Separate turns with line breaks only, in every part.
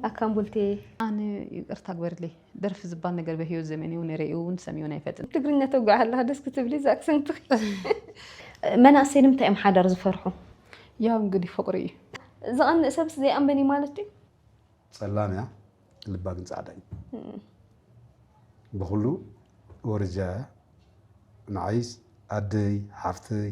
ኣካም ቡልቴ ኣነ
ይቅርታ ግበርልይ ደርፊ ዝባል ነገር በህይወት ዘመንይ ውን ሬኡ ውን ሰሚኦን ኣይፈጥን። ትግርኛ ተጉዕ ኣለኻ
ደስ ክትብሊ እዛ ኣክሰንትኺ። መናእሰይ ንምንታይ እዮም ሓዳር ዝፈርሑ? ያው እንግዲህ
ፍቅሪ እዩ። ዝቀንእ
ሰብስ ዘይኣምበን እዩ ማለት ድዩ? ጸላም
እያ ልባ ግን ጻዕዳ እዩ ብኩሉ ወረጃ እያ ንዓይስ ኣደይ ሓፍተይ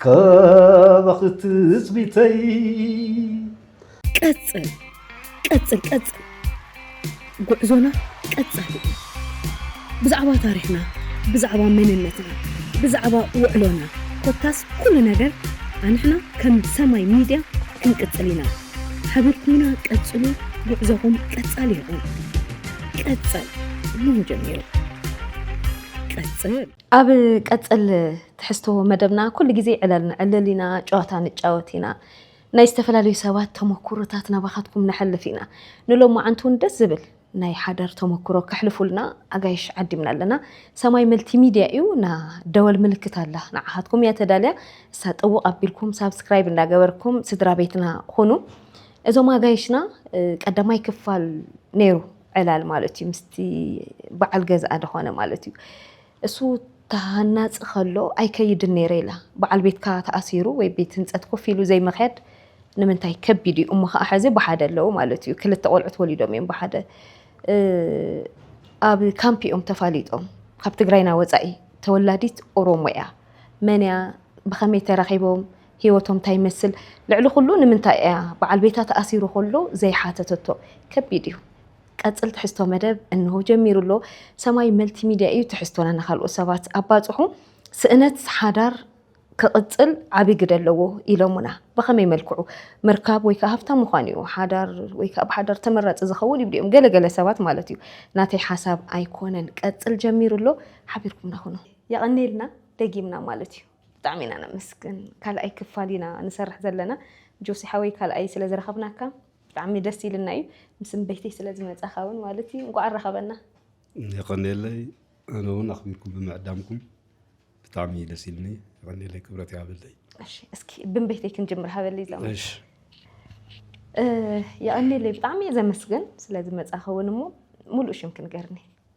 ካባኺ ትጽቢተይ
ቀጽል ቀጽል ቀጽል ጉዕዞና ቀጻሊ እዩ ብዛዕባ ታሪኽና ብዛዕባ መንነትና ብዛዕባ ውዕሎና ኮታስ ኩሉ ነገር ኣንሕና ከም ሰማይ ሚድያ ክንቅጽል ኢና ሓቢርኩምና ቀጽሉ ጉዕዞኹም ቀጻሊ ይኹን ቀጸል እሞ ጀሚሩ ቀጽል ኣብ
ቀጽል ትሕዝቶ መደብና ኩሉ ግዜ ዕለል ንዕልል ኢና፣ ጨዋታ ንጫወት ኢና፣ ናይ ዝተፈላለዩ ሰባት ተመኩሮታት ናባኻትኩም ነሕልፍ ኢና። ንሎማዓንቲ ውን ደስ ዝብል ናይ ሓዳር ተመኩሮ ከሕልፉልና ኣጋይሽ ዓዲምና ኣለና። ሰማይ መልቲ ሚድያ እዩ እና ደወል ምልክት ኣላ ንዓኻትኩም እያ ተዳልያ እሳ ጥውቕ ኣቢልኩም ሳብስክራይብ እንዳገበርኩም ስድራ ቤትና ኹኑ። እዞም ኣጋይሽና ቀዳማይ ክፋል ነይሩ ዕላል ማለት እዩ ምስቲ በዓል ገዝኣ ደኾነ ማለት እዩ እሱ ተሃናጺ ከሎ ኣይከይድን ነይረ ኢላ። በዓል ቤትካ ተኣሲሩ ወይ ቤት ህንጸት ኮፍ ኢሉ ዘይምኽያድ ንምንታይ ከቢድ እዩ እሞ ከኣ ሕዚ ብሓደ ኣለዉ ማለት እዩ ክልተ ቆልዑት ወሊዶም እዮም ብሓደ ኣብ ካምፕ እዮም ተፋሊጦም ካብ ትግራይና ወጻኢ ተወላዲት ኦሮሞ እያ መን እያ ብኸመይ ተራኺቦም ህይወቶም እንታይ ይመስል፣ ልዕሊ ዅሉ ንምንታይ እያ በዓል ቤታ ተኣሲሩ ከሎ ዘይሓተተቶ? ከቢድ እዩ። ቀጽል ትሕዝቶ መደብ እንሆ ጀሚሩ ኣሎ። ሰማይ መልቲ ሚድያ እዩ ትሕዝቶና ንካልኦት ሰባት ኣባጽሑ። ስእነት ሓዳር ክቕጽል ዓቢ ግደ ኣለዎ ኢሎሙና። ብኸመይ መልክዑ? ምርካብ ወይ ከኣ ሃብታም ምዃን እዩ ሓዳር ወይ ከኣ ብሓዳር ተመራጺ ዝኸውን ይብሉ እዮም ገለ ገለ ሰባት ማለት እዩ። ናተይ ሓሳብ ኣይኮነን። ቀጽል ጀሚሩ ኣሎ ሓቢርኩምና ኩኑ። የቐንየልና ደጊምና ማለት እዩ። ብጣዕሚ ኢና ነመስግን ካልኣይ ክፋል ኢና ንሰርሕ ዘለና ጆሲ ሓወይ ካልኣይ ስለ ዝረኸብናካ ብጣዕሚ ደስ ኢልና እዩ ምስ ንበይተይ ስለ ዝመጻኻ እውን ማለት እዩ እንኳዕ ኣራኸበና የቐኔለይ
ኣነ እውን ኣኽቢርኩም ብምዕዳምኩም ብጣዕሚ እዩ ደስ ኢልኒ የቐኔለይ ክብረት ይሃበለይ እስኪ
ብንበይተይ ክንጅምር ሃበለይ ዘማ የቐኔለይ ብጣዕሚ እየ ዘመስግን ስለ ዝመጻኻ እውን እሞ ሙሉእ ሽም ክንገርኒ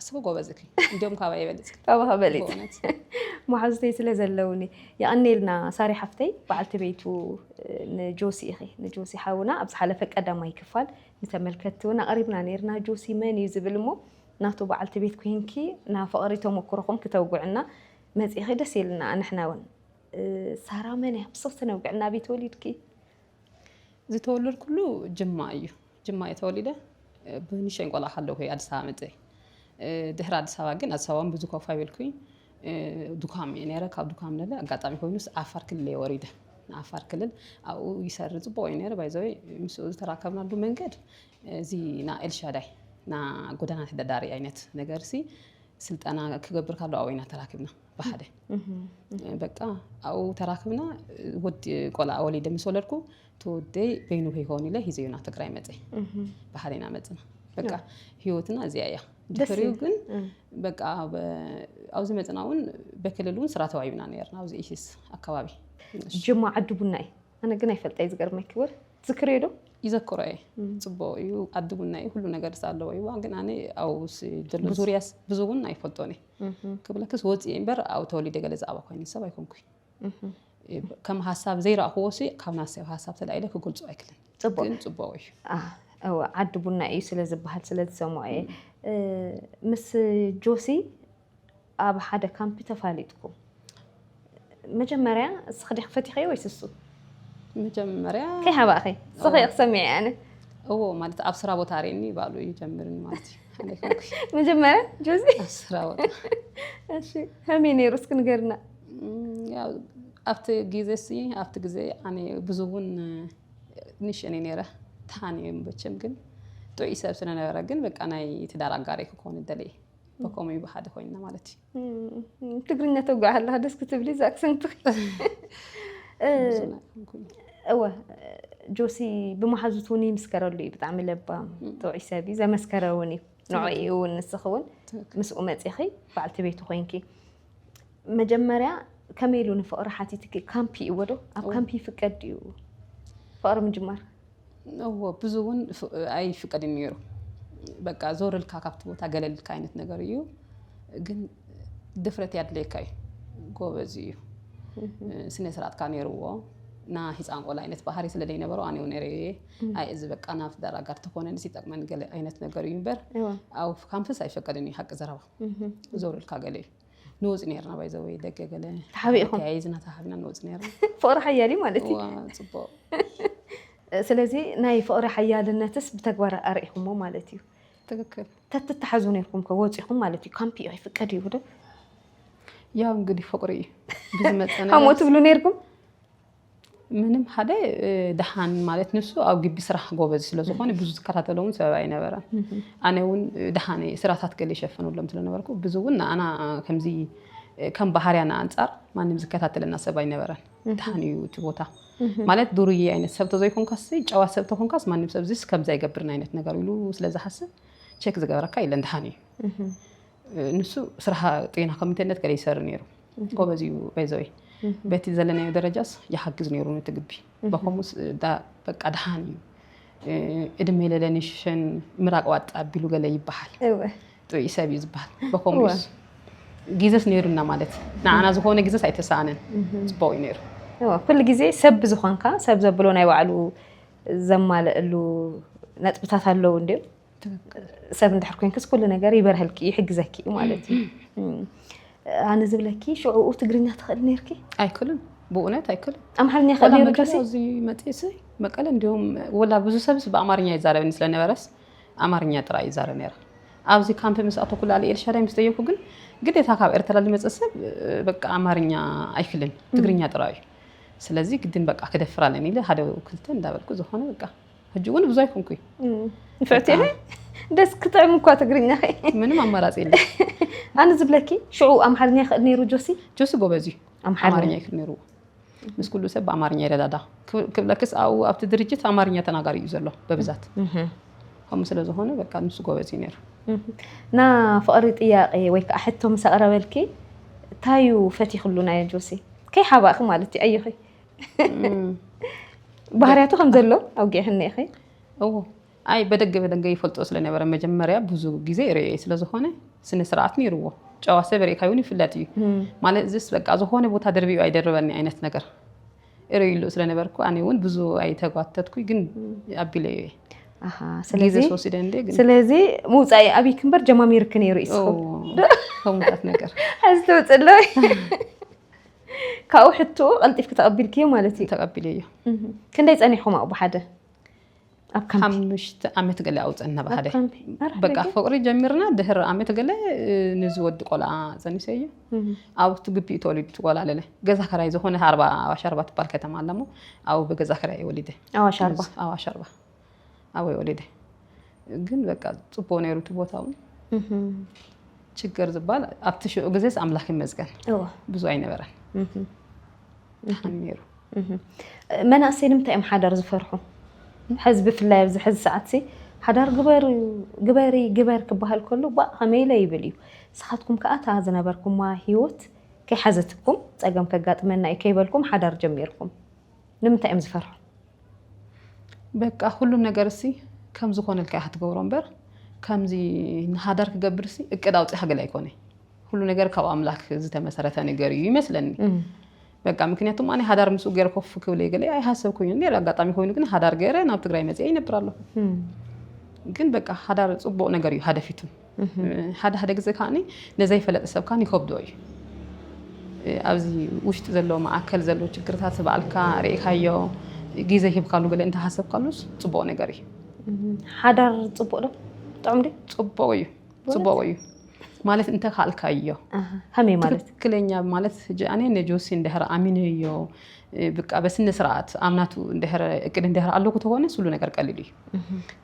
እስኩ ጎበዝ እኪ
እንዲም ካባ ይበልፅ ካባኻ በሊፅ
በእውነት መሓዙተይ ስለ ዘለውኒ የቐኔልና ሳሪ ሓፍተይ በዓልቲ ቤቱ ንጆሲ ኢኺ ንጆሲ ሓውና ኣብ ዝሓለፈ ቀዳማይ ክፋል ንተመልከትቲ እውን ኣቕሪብና ነርና ጆሲ መን እዩ ዝብል እሞ ናቱ በዓልቲ ቤት ኮይንኪ ናብ ፍቕሪ ተመክሮኹም ክተውግዕና መፂኺ ደስ ኢልና ንሕና እውን ሳራ መን እያ ብስኽቲ ነውግዕ ናበይ ተወሊድኪ
ዝተወለድኩሉ ጅማ እዩ ጅማ እየ ተወሊደ ብንሸን ቆልዓ ከለኹ እየ ኣዲስ ኣበባ መፅየ ድሕሪ ኣዲስ ኣበባ ግን ኣዲስ ኣበባ ብዙ ኮፍ ኣይበልኩኝ ዱካም እየ ነይረ ካብ ዱካም ነለ ኣጋጣሚ ኮይኑስ ዓፋር ክልል እየ ወሪደ ንዓፋር ክልል ኣብኡ ይሰሪ ፅቡቅ እዩ ነይረ ባይዘወ ምስኡ ዝተራከብናሉ መንገድ እዚ ና ኤልሻዳይ ና ጎዳና ተዳዳሪ ኣይነት ነገር ሲ ስልጠና ክገብር ካሎ ኣብኡ ኢና ተራኪብና ብሓደ በቃ ኣብኡ ተራክብና ወዲ ቆልዓ ወሊደ ምስ ወለድኩ እቲ ወደይ በይኑ ከይከውን ኢለ ሂዘዮ ናብ ትግራይ መፀ ብሓደ ኢና መፅና በቃ ሂወትና እዚኣ እያ ድሕሪኡ ግን በቃ ኣብዚ መፅና እውን በክልል እውን ስራ ተዋሂብና ነርና ኣብዚ ኢሲስ ኣከባቢ ጅማ
ዓዲ ቡና እዩ ኣነ ግን ኣይፈልጠ እዩ ዝገርመኪ ወር ዝክርዮ ዶ ይዘክሮ እየ
ፅቡቅ እዩ ዓዲ ቡና እዩ ኩሉ ነገር ኣለዎ እዩዋ ግን ኣነ ኣብኡስ ዘሎ ዙርያስ ብዙ እውን ኣይፈልጦን እየ ክብለክስ ወፂኢ እምበር ኣብኡ ተወሊደ ገለ ዝኣባ ኮይነ ሰብ ኣይኮንኩይ ከም ሃሳብ ዘይረእኽዎ ሲ ካብ ናሰብ ሃሳብ ተላኢለ ክገልፆ ኣይክልን ግን ፅቡቅ እዩ እወ
ዓዲ ቡና እዩ ስለ ዝበሃል ስለ ዝሰምዖ እየ ምስ ጆሲ ኣብ ሓደ ካምፒ ተፋሊጥኩም መጀመርያ እስኺ ዲኺ ፈቲኸዮ ወይስ እሱ? መጀመርያ
ከይሓባእኺ
እስኺ ክሰምዐ ኣነ እዎ ማለት
ኣብ ስራ ቦታ ርእኒ ባሉ ይጀምርን ማለት መጀመርያ
ጆዚ ኣብ ስራ ቦታ እሺ ከመይ ነይሩ እስኪ ንገርና
ኣብቲ ግዜ ሲ ኣብቲ ግዜ ኣነ ብዙ እውን ንሽእኒ ነይረ ተሃኒ መቸም ግን ጥዑይ ሰብ ስለነበረ ግን በቃ ናይ ትዳር ኣጋሪ ክኾን ደለየ በከምኡ እዩ ብሓደ ኮይንና ማለት እዩ
ትግርኛ ተጓዕ ኣለካ ደስ ክትብሊ እዛ ኣክሰንትኺ እወ ጆሲ ብመሓዙት እውን ይምስከረሉ እዩ ብጣዕሚ ለባም ጥዑይ ሰብ እዩ ዘመስከረ እውን እዩ ንዕኡ እውን ንስኺ እውን ምስኡ መፂኺ በዓልቲ ቤቱ ኮይንኪ መጀመርያ ከመይ ኢሉ ንፍቕሪ ሓቲትኪ? ካምፒ እዎ ዶ? ኣብ ካምፒ ይፍቀድ ድዩ ፍቕሪ ምጅማር? እዎ
ብዙ እውን ኣይፍቀድን እዩ ነይሩ። በቃ ዞር ኢልካ ካብቲ ቦታ ገለል ኢልካ ዓይነት ነገር እዩ። ግን ድፍረት ያድልየካ እዩ። ጎበዝ እዩ። ስነ ስርዓትካ ነይርዎ ና ህፃን ቆልዓ ዓይነት ባህሪ ስለ ዘይነበሮ ኣነ እውን ነይረ እየ ኣይ እዚ በቃ ናብ ትዳር ኣጋር ተኾነንስ ይጠቅመኒ ገለ ዓይነት ነገር እዩ እምበር እዎ። ኣብ ካምፕስ ኣይፈቀድን እዩ ሓቂ ዘረባ ዞርልካ ገለ እዩ ንወፅ ነርና ባይዘወይ ደገ ገለ ተሓቢእኹም ተያይዝና
ተሓቢና ንወፅ
ነርና ፍቕሪ ሓያል እዩ ማለት
እዩ
ፅቡቅ
ስለዚ ናይ ፍቕሪ ሓያልነትስ ብተግባር ኣርእኹሞ ማለት እዩ ትክክል
ተትተሓዙ ነርኩም
ከወፂኹም ማለት እዩ ካምፒ እዩ ኣይፍቀድ እዩ ዶ
ያው እንግዲህ ፍቕሪ እዩ ብዝመፀ ሃሞ ትብሉ ነርኩም ምንም ሓደ ደሓን ማለት ንሱ ኣብ ግቢ ስራሕ ጎበዝ ስለዝኾነ ብዙ ዝከታተሎ እውን ሰበብ ኣይነበረን ኣነ እውን ደሓን ስራታት ገለ ይሸፈኑሎም ስለነበርኩ ብዙ እውን ንኣና ከምዚ ከም ባህርያና ኣንፃር ማንም ዝከታተለና ሰብ ኣይነበረን ደሓን እዩ እቲ ቦታ ማለት ዱርዬ ዓይነት ሰብ ተዘይኮንካስ ጨዋ ሰብ ተኮንካስ ማንም ሰብ ዝስ ከምዚ ኣይገብርን ዓይነት ነገር ኢሉ ስለዝሓስብ ቼክ ዝገበረካ የለን ደሓን እዩ ንሱ ስራሕ ጤና ኮሚቴነት ገለ ይሰር ነይሩ ጎበዝ እዩ በይዘወይ በቲ ዘለናዮ ደረጃስ ይሓግዝ ነይሩ ነቲ ግቢ በከምኡስ በቃ ድሓን እዩ እድሜ ለለንሽሸን ምራቅ ዋጣ ኣቢሉ ገለ ይበሃል ጥዑይ
ሰብ እዩ
ዝበሃል በከምኡስ ግዘስ ነይሩና ማለት ንዓና ዝኾነ ግዘስ ኣይተሰኣነን ፅቡቅ እዩ ነይሩ ኩሉ ግዜ
ሰብ ብዝኾንካ ሰብ ዘብሎ ናይ ባዕሉ ዘማልእሉ ነጥብታት ኣለዉ እንዲም ሰብ እንድሕር ኮንክስ ኩሉ ነገር ይበርሀልኪ ይሕግዘኪ እዩ ማለት እዩ ኣነ ዝብለኪ ሽዕኡ ትግርኛ ትኽእል ነርኪ ኣይክልን
ብእውነት ኣይክልን ኣምሓርኛ ክእል ነሩ ከሲ
እዚ መፅእሲ
መቀለ እንዲሁም ወላ ብዙ ሰብስ ብኣማርኛ ይዛረበኒ ስለነበረስ ኣማርኛ ጥራይ ይዛረብ ነረ ኣብዚ ካምፕ ምስ ኣቶ ኩላ ኤልሻዳይ ምስ ጠየኩ ግን ግዴታ ካብ ኤርትራ ዝመፅእ ሰብ በቃ ኣማርኛ ኣይክልን ትግርኛ ጥራይ እዩ ስለዚ ግድን በቃ ክደፍር ኣለኒ ኢለ ሓደ ክልተ እንዳበልኩ ዝኾነ በቃ ሕጂ እውን ብዙ ኣይኮንኩይ ንፍዕቲ ኢለ
ደስ ክጥዕም እኳ ትግርኛ ምንም ኣማራፂ
የለ ኣነ
ዝብለኪ ሽዑ ኣምሓርኛ ይኽእል ነይሩ ጆሲ ጆሲ ጎበዝ እዩ
ኣምሓርኛ ይኽእል
ነይሩ
ምስ ኩሉ ሰብ ብኣማርኛ ይረዳዳ ክብለክስ ኣብኡ ኣብቲ ድርጅት ኣማርኛ ተናጋሪ እዩ ዘሎ በብዛት ከምኡ ስለ ዝኾነ በቃ ንሱ ጎበዝ እዩ ነይሩ ና
ፍቕሪ ጥያቄ ወይ ከዓ ሕቶ ምስ ኣቕረበልኪ ታዩ ፈቲኽሉ ናይ ጆሲ ከይሓባእኺ ማለት እዩ ኣየኺ ባህርያቱ ከም ዘሎ ኣውጊዕክኒ ኢኺ እዎ
ኣይ በደገ በደገ ይፈልጦ ስለነበረ መጀመርያ ብዙ ግዜ ርእየ ስለዝኾነ ስነ ስርዓት ነይርዎ ጨዋ ሰብ ርእካ ይውን ይፍለጥ እዩ ማለት እዚስ በቃ ዝኾነ ቦታ ደርቢኡ ኣይደርበኒ ዓይነት ነገር እርእይሉ ስለነበርኩ ኣነ እውን ብዙ ኣይተጓተትኩ ግን ኣቢለ እየ ኣሃ፣ ግዜ ስለዚ ስወሲደ እንደ
ግን ስለዚ ምውፃኢ ኣብይክ እምበር ጀማሚርክ ነይሩ እዩ እዎ ከምታት
ነገር ሕዚ ተውፅእ ኣሎ
ካብኡ ሕትኡ ቀልጢፍኪ ተቐቢልክዮ ማለት እዩ ተቐቢለዮ
ክንደይ ጸኒሕኹም
ኣብኡ ብሓደ ኣብ
ካምፒ ሓሙሽተ ዓመት ገለ ኣብኡ ጸንሕና ኣብ ብሓደ ካምፒ ኣረ በቃ ሕደገ። ፍቕሪ ጀሚርና ድሕሪ ዓመት ገለ ንዚ ወዲ ቆልዓ ጸኒሰዮ ኣብቲ ግቢ እዩ ተወሊዱ እቲ ቆልዓ ለለ ገዛ ከራይ ዝኾነ ኣርባ ኣዋሽ ኣርባ ትባል ከተማ ኣለሞ ኣብኡ ብገዛ ከራይ እዩ ወሊደ ኣዋሽ ኣርባ ኣዋሽ
ኣርባ ኣበይ
ወሊደ ግን በቃ ፅቡቅ ነይሩ እቲ ቦታ እውን ችግር ዝበሃል ኣብቲ ሽዑ ግዜስ ኣምላክ ይመስገን እወ ብዙ ኣይነበረን ድሓን ነይሩ እህ።
መናእሰይ ንምንታይ እዮም ሓዳር ዝፈርሑ ሕዚ ብፍላይ ኣብዚ ሕዚ ሰዓት ሲ ሓዳር ግበሩ ግበሪ ግበር ክበሃል ከሎ ባእ ከመይ ኢለ ይብል እዩ ንስኻትኩም ከዓ እታ ዝነበርኩማ ሂወት ከይሓዘትኩም ፀገም ከጋጥመና እዩ ከይበልኩም ሓዳር ጀሚርኩም ንምንታይ እዮም ዝፈርሑ
በቃ ኩሉ ነገር እሲ ከም ዝኾነልካ ኢኻ ትገብሮ እምበር ከምዚ ንሃዳር ክገብር እሲ እቅድ ኣውፂኻ ገለ ኣይኮነ ኩሉ ነገር ካብ ኣምላክ ዝተመሰረተ ነገር እዩ ይመስለኒ በቃ ምክንያቱም ኣነ ሃዳር ምስኡ ገይረ ኮፍ ክብል ገለ ኣይሃሰብኩኝ ነይረ ኣጋጣሚ ኮይኑ ግን ሃዳር ገይረ ናብ ትግራይ መፅአ ይነብር ኣለኹ ግን በቃ ሃዳር ፅቡቅ ነገር እዩ ሃደፊቱ ሓደ ሓደ ግዜ ከዓ ንዘይፈለጥ ሰብ ከዓ ይከብዶ እዩ ኣብዚ ውሽጢ ዘሎ ማእከል ዘሎ ችግርታት ባዕልካ ርኢካዮ ግዜ ሂብካሉ ገለ እንተሃሰብካሉስ ፅቡቅ ነገር እዩ
ሓዳር ፅቡቅ ዶ ጥዑም
ዶ
ፅቡቅ እዩ ፅቡቅ እዩ
ማለት እንተካልካዮ ከመይ ማለት
ትክክለኛ ማለት
ኣነ ንጆሲ እንድሕር ኣሚነዮ ብቃ በስነ ስርዓት ኣምናቱ እንድሕር እቅድ እንድሕር ኣለኩ ተኮነ ስሉ ነገር ቀሊል እዩ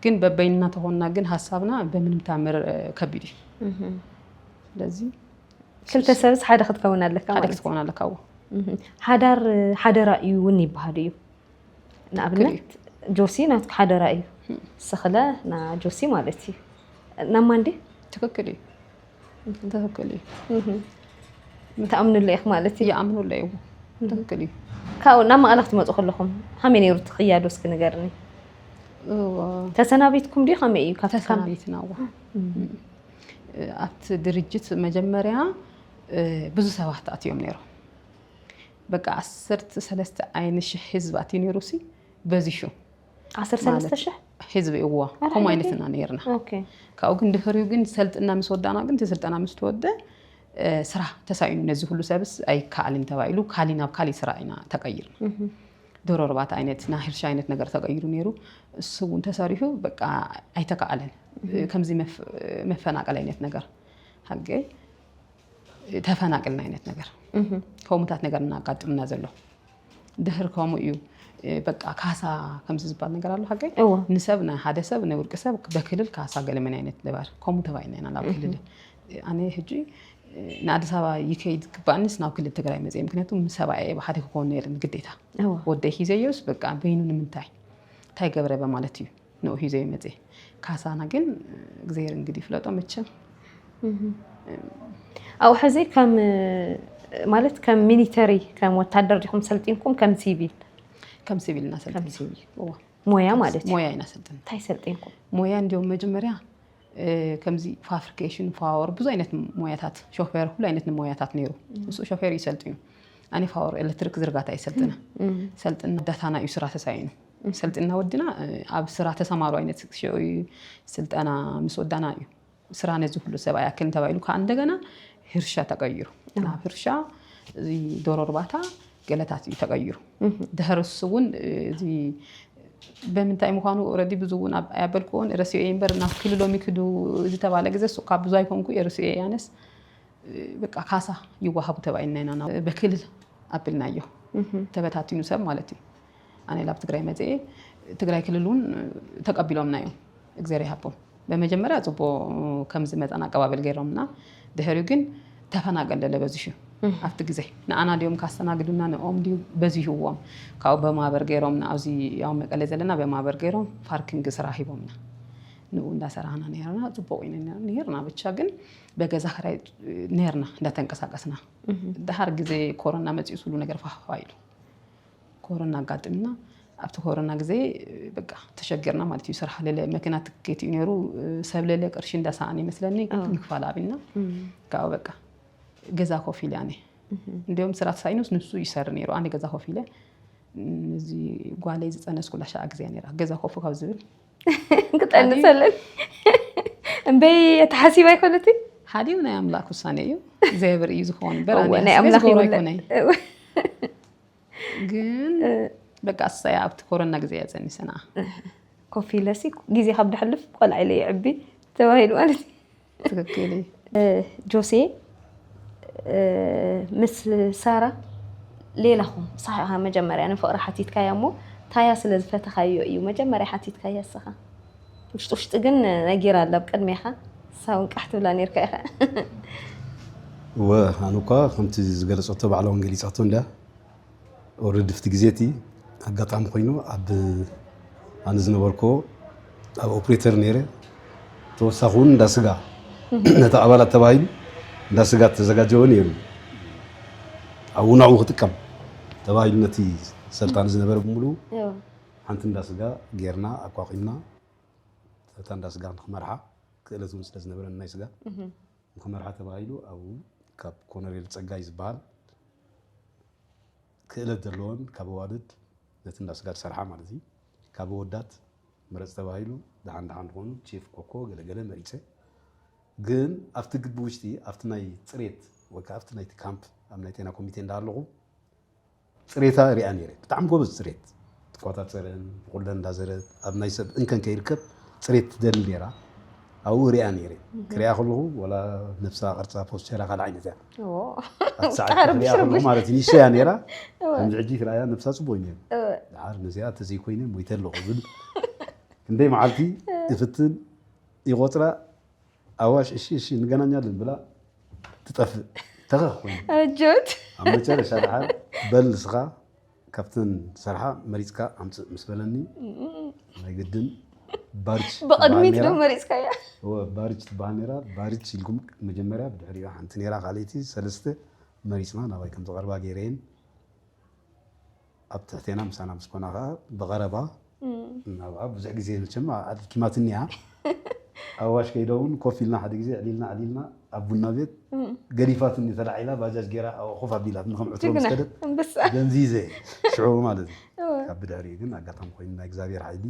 ግን በበይንና ተኾንና ግን ሀሳብና በምንም ታምር ከቢድ እዩ ስለዚ
ክልተ ሰብስ ሓደ ክትከውን ኣለካ ሓደ ክትከውን ኣለካ
ሓዳር
ሓደራ እዩ እውን ይበሃል እዩ ንኣብነት ጆሲ ናትኩ ሓደራ እዩ ስክለ ና ጆሲ ማለት እዩ ናማ እንዲ ትክክል እዩ
ትክክል እዩ
ምትኣምንሉ ኢኽ ማለት እዩ ይኣምንሉ እዩ
ትክክል እዩ ካብኡ ናብ
መቐለ ክትመፁ ከለኹም ከመይ ነይሩ እቲ ክያዶ እስኪ ንገርኒ ተሰናቢትኩም ድዩ ከመይ እዩ ተሰናቢትና
ዋ ኣብቲ ድርጅት መጀመርያ ብዙ ሰባት ኣትዮም ነይሮም በቃ ዓሰርተ ሰለስተ ዓይኒ ሽሕ ህዝቢ ኣትዩ ነይሩ ሲ በዚሑ ዓሰርተ
ሰለስተ ማለት ሽሕ ህዝቢ እዎ ኣረ
ከምኡ ዓይነት ሕጂ? ኢና ነርና ኦኬ ካብኡ ግን
ድሕሪኡ
ግን ሰልጥና ምስ ወዳእና ግን እቲ ስልጠና ምስ ተወደ እ፣ ስራሕ ተሳኢኑ ነዚ ኩሉ ሰብስ ኣይከኣልን ተባሂሉ ካሊ ናብ ካሊእ ስራሕ ኢና ተቀይርና ዶሮ እርባታ ዓይነት ናይ ሕርሻ ዓይነት ነገር ተቀይሩ ነይሩ እሱ እውን ተሰሪሑ በቃ ኣይተከኣለን ከምዚ መፍ- መፈናቀል ዓይነት ነገር ሃገይ ተፈናቅልና ዓይነት ነገር ከምኡታት ነገር እናጋጥምና ዘሎ ድህር ከምኡ እዩ በቃ ካሳ ከምዚ ዝበሃል ነገር ኣሎ ሓቀይ ንሰብ ንሓደ ሰብ ንውልቂ ሰብ በክልል ካሳ ገለመን ዓይነት ድባር ከምኡ ተባሂልና ኢና ናብ ክልል ኣነ ሕጂ ንኣዲስ ኣበባ ይከይድ ክባኣንስ ናብ ክልል ትግራይ መፅእ ምክንያቱ ምሰባ እየ ብሓደ ክኸውን ነይርኒ ግዴታ ወደይ ሂዘዮስ በቃ በይኑ ንምንታይ እንታይ ገበረ በማለት እዩ ነው ሂዞ ይመጽ ካሳና ግን እግዜር እንግዲህ ፍለጦ መቸም
ኣብኡ ሕዚ ከም ማለት ከም ሚሊተሪ ከም ወታደር ዲኹም ሰልጢንኩም ከም ሲቪል ከም ሲቪል
ኢና ሰልጢን
ሞያ ማለት እዩ ሞያ ኢና ሰልጥን እንታይ
ሰልጢንኩም
ሞያ እንዲሁም መጀመርያ
ከምዚ ፋብሪኬሽን ፋወር ብዙ ዓይነት ሞያታት ሾፌር ኩሉ ዓይነት ሞያታት ነይሩ ንሱ ሾፌር ይሰልጥዩ ኣነ ፋወር ኤሌክትሪክ ዝርጋታ ይሰልጥነ ሰልጥን ዳታና እዩ ስራ ተሳኢኑ ሰልጥንና ወዲና ኣብ ስራ ተሰማሩ ኣይነት ሽዑ እዩ ስልጠና ምስ ወዳና እዩ ስራ ነዚ ኩሉ ሰብ ኣይኣክልን ተባሂሉ ከዓ እንደገና ህርሻ ተቀይሩ ናብ ህርሻ እዚ ዶሮ እርባታ ገለታት እዩ ተቀይሩ ድሕርስ እውን እዚ በምንታይ ምዃኑ ረዲ ብዙ እውን ኣያበልክዎን ረሲዮ እየ እምበር ናብ ክልሎም ይክዱ ዝተባለ ግዘ ሱካ ብዙ ኣይኮንኩ እየ ረሲዮ እየ ኣነስ በቃ ካሳ ይዋሃቡ ተባይና ኢና በክልል ኣብልናዮ ተበታቲኑ ሰብ ማለት እዩ ኣነ ላብ ትግራይ መፅኤ ትግራይ ክልል እውን ተቀቢሎምና እዮም እግዜር ይሃቦም በመጀመርያ ፅቡቅ ከምዚ መጠን ኣቀባበል ገይሮምና ድሕሪኡ ግን ተፈናቀል ደለ በዚሑ ኣብቲ ግዜ ንኣና ድዮም ካስተናግዱና ንኦም ድዩ በዚህዎም ካብኡ በማህበር ገይሮም ኣብዚ ያው መቀለ ዘለና በማህበር ገይሮም ፓርኪንግ ስራ ሂቦምና ንኡ እንዳሰራህና ነርና ፅቡቅ ዩ ነርና ብቻ ግን በገዛ ክራይ ነርና እንዳተንቀሳቀስና ድሓር ግዜ ኮሮና መፅኡ ስሉ ነገር ፋፋ ኢሉ ኮሮና ኣጋጢምና ኣብቲ ኮሮና ግዜ በቃ ተሸጊርና ማለት እዩ ስራሕ ለለ መኪና ትኬት እዩ ነይሩ ሰብ ለለ ቅርሺ እንዳሰኣን ይመስለኒ ምክፋል ኣብና ካብኡ በቃ ገዛ ኮፍ ኢለ ኣነ እንዲም ስራ ተሳኢኑስ ንሱ ይሰር ነይሩ ኣነ ገዛ ኮፍ ኢለ እዚ ጓለይ ዝፀነስኩላ ሸዓ ግዜ ነይራ ገዛ ኮፍ ካብ ዝብል ክጠንሰለን
እምበይ ተሓሲባ ይኮነት ሓዲኡ ናይ ኣምላክ
ውሳነ እዩ እግዚኣብሔር እዩ ዝኸውን በር ናይ ኣምላክ ይኮነ ግን በቃ ኣሰያ ኣብቲ ኮረና ግዜ እያ ፀኒሰና ኮፍ
ኢለሲ ግዜ ካብ ደሕልፍ ቆልዓ ኢለ ይዕቢ ተባሂሉ ማለት ትክክል እዩ ጆሴ ምስ ሳራ ሌላኹም ሳሕኻ መጀመርያ ንፍቕሪ ሓቲትካያ እሞ ታያ ስለ ዝፈተኻዮ እዩ መጀመርያ ሓቲትካያ እስኻ ውሽጢ ውሽጢ ግን ነጊራ ኣላ ኣብ ቅድሜኻ ሳውን ቃሕ ትብላ ነርካ ኢኻ እወ
ኣነ እኳ ከምቲ ዝገለፀቶ ባዕላ እውን ገሊፃቶ እንድያ ኦልሬዲ ፍቲ ግዜ እቲ ኣጋጣሚ ኮይኑ ኣብ ኣነ ዝነበርኮ ኣብ ኦፕሬተር ነይረ ተወሳኺ እውን እንዳ ስጋ ነቲ ኣባላት ተባሂሉ እንዳ ስጋ ተዘጋጀወ ነይሩ ኣብኡ ናብኡ ክጥቀም ተባሂሉ ነቲ ሰልጣን ዝነበረ ብምሉ ሓንቲ እንዳ ስጋ ጌርና ኣቋቒምና እታ እንዳ ስጋ ንክመርሓ ክእለት እውን ስለ ዝነበረን ናይ ስጋ ንክመርሓ ተባሂሉ ኣብኡ ካብ ኮነሬል ፀጋይ ዝበሃል ክእለት ዘለዎን ካብ ኣዋልድ ነቲ እንዳ ስጋ ዝሰርሓ ማለት እዩ ካብ ወዳት ምረፅ ተባሂሉ ደሓን ደሓን ዝኾኑ ቼፍ ኮኮ ገለገለ መሪፀ ግን ኣብቲ ግቢ ውሽጢ ኣብቲ ናይ ፅሬት ወይ ከዓ ኣብቲ ናይቲ ካምፕ ኣብ ናይ ጤና ኮሚቴ እንዳሃለኹ ፅሬታ ሪኣ ነይረ ብጣዕሚ ጎበዝ ፅሬት ትቆፃፀርን ብቁለን እንዳዘረት ኣብ ናይ ሰብ እንከን ከይርከብ ፅሬት ትደሊ ነይራ ኣብኡ ሪኣ ነይረ ክሪኣ ከለኹ ወላ ነብሳ ቅርፃ ፖስቸራ ካልእ ዓይነት እያ ኣብቲ ሰዓት
ክሪኣ ረብሽ ከለኹ ረብሽ ማለት
እዩ ንእሽቶ እያ ነይራ ከምዚ ሕጂ ክሪኣያ ነብሳ ፅቡቅ እዩ ነይሩ ድሓር ነዚኣ ተዘይኮይነ ሞይተ ኣለኹ ዝብል ክንደይ መዓልቲ እፍትን ይቆፅራ ኣዋሽ እሺ እሺ እንገናኛለን ብላ ትጠፍእ ተኸኽ ኮይኑ ኣጆት
ኣብ መጨረሻ
ድሓር በል ንስኻ ካብተን ዝሰርሓ መሪፅካ ኣምፅእ ምስ በለኒ ናይ ግድን ባርች ብቕድሚት ትበሃል ዶ ነይራ።
መሪፅካያ እወ ባርች ትበሃል
ነይራ ባርች ኢልኩም መጀመርያ ብድሕሪኡ ሓንቲ ነይራ ካልኣይቲ ሰለስተ መሪፅና ናባይ ከም ዝቐርባ ገይረየን ኣብ ትሕቴና ምሳና ምስ ኮና ከዓ ብቐረባ እናብኣ ብዙሕ ግዜ መቸም ኣድኪማትኒ እያ ኣዋሽ ከይደ እውን ኮፍ ኢልና ሓደ ግዜ ዕሊልና ዕሊልና ኣብ ቡና ቤት ገዲፋትኒ ተላዒላ ባጃጅ ገይራ ኣብኣ ኮፍ ኣቢላትኒ ከም ዕትሮ ምስ ከደት ደንዚዘ ሽዑ ማለት እዩ ካብ ብድሕሪኡ ግን ኣጋጣሚ ኮይኑ ናይ እግዚኣብሔር ሓይሊ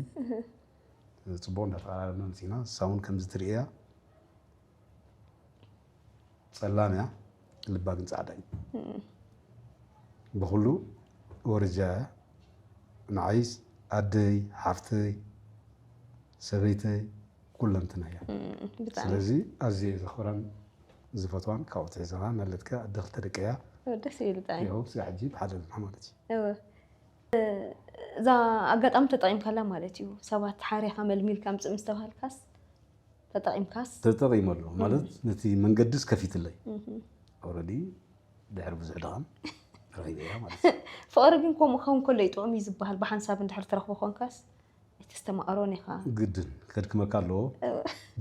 ፅቡቅ እንዳተቀራረብና መፂና ንሳ እውን ከምዚ ትርእያ ጸላም እያ ልባ ግን ጻዕዳ እዩ ብኩሉ ወርጃ ንዓይ ኣደይ ሓፍተይ ሰበይተይ ኩለንትና እያ ስለዚ ኣዝየ እዩ ዘኽብራን ዝፈትዋን ካብኡ ትሕዘኻ ማለት ከ ኣደ ክልተ ደቂ እያ ደስ ይብል ብጣዕሚ
ያው ስጋ ሕጂ ብሓደ ኣለና
ማለት እዩ እዛ
ኣጋጣሚ ተጠቂምካላ ማለት እዩ ሰባት ሓሪኻ መልሚልካ ምፅእ ምስተባሃልካስ ተጠቂምካስ ተጠቒመሉ ማለት
ነቲ መንገድስ ከፊትለይ ኦልሬዲ ድሕሪ ብዙሕ ድኻም ረኺበያ ማለት እዩ ፍቕሪ ግን ከምኡ ክኸውን
ከሎ እዩ ጥዑም እዩ ዝበሃል ብሓንሳብ እንድሕር ትረኽቦ ኮንካስ እቲ ዝተማእሮን ኢኻ ግድን ከድክመካ
ኣለዎ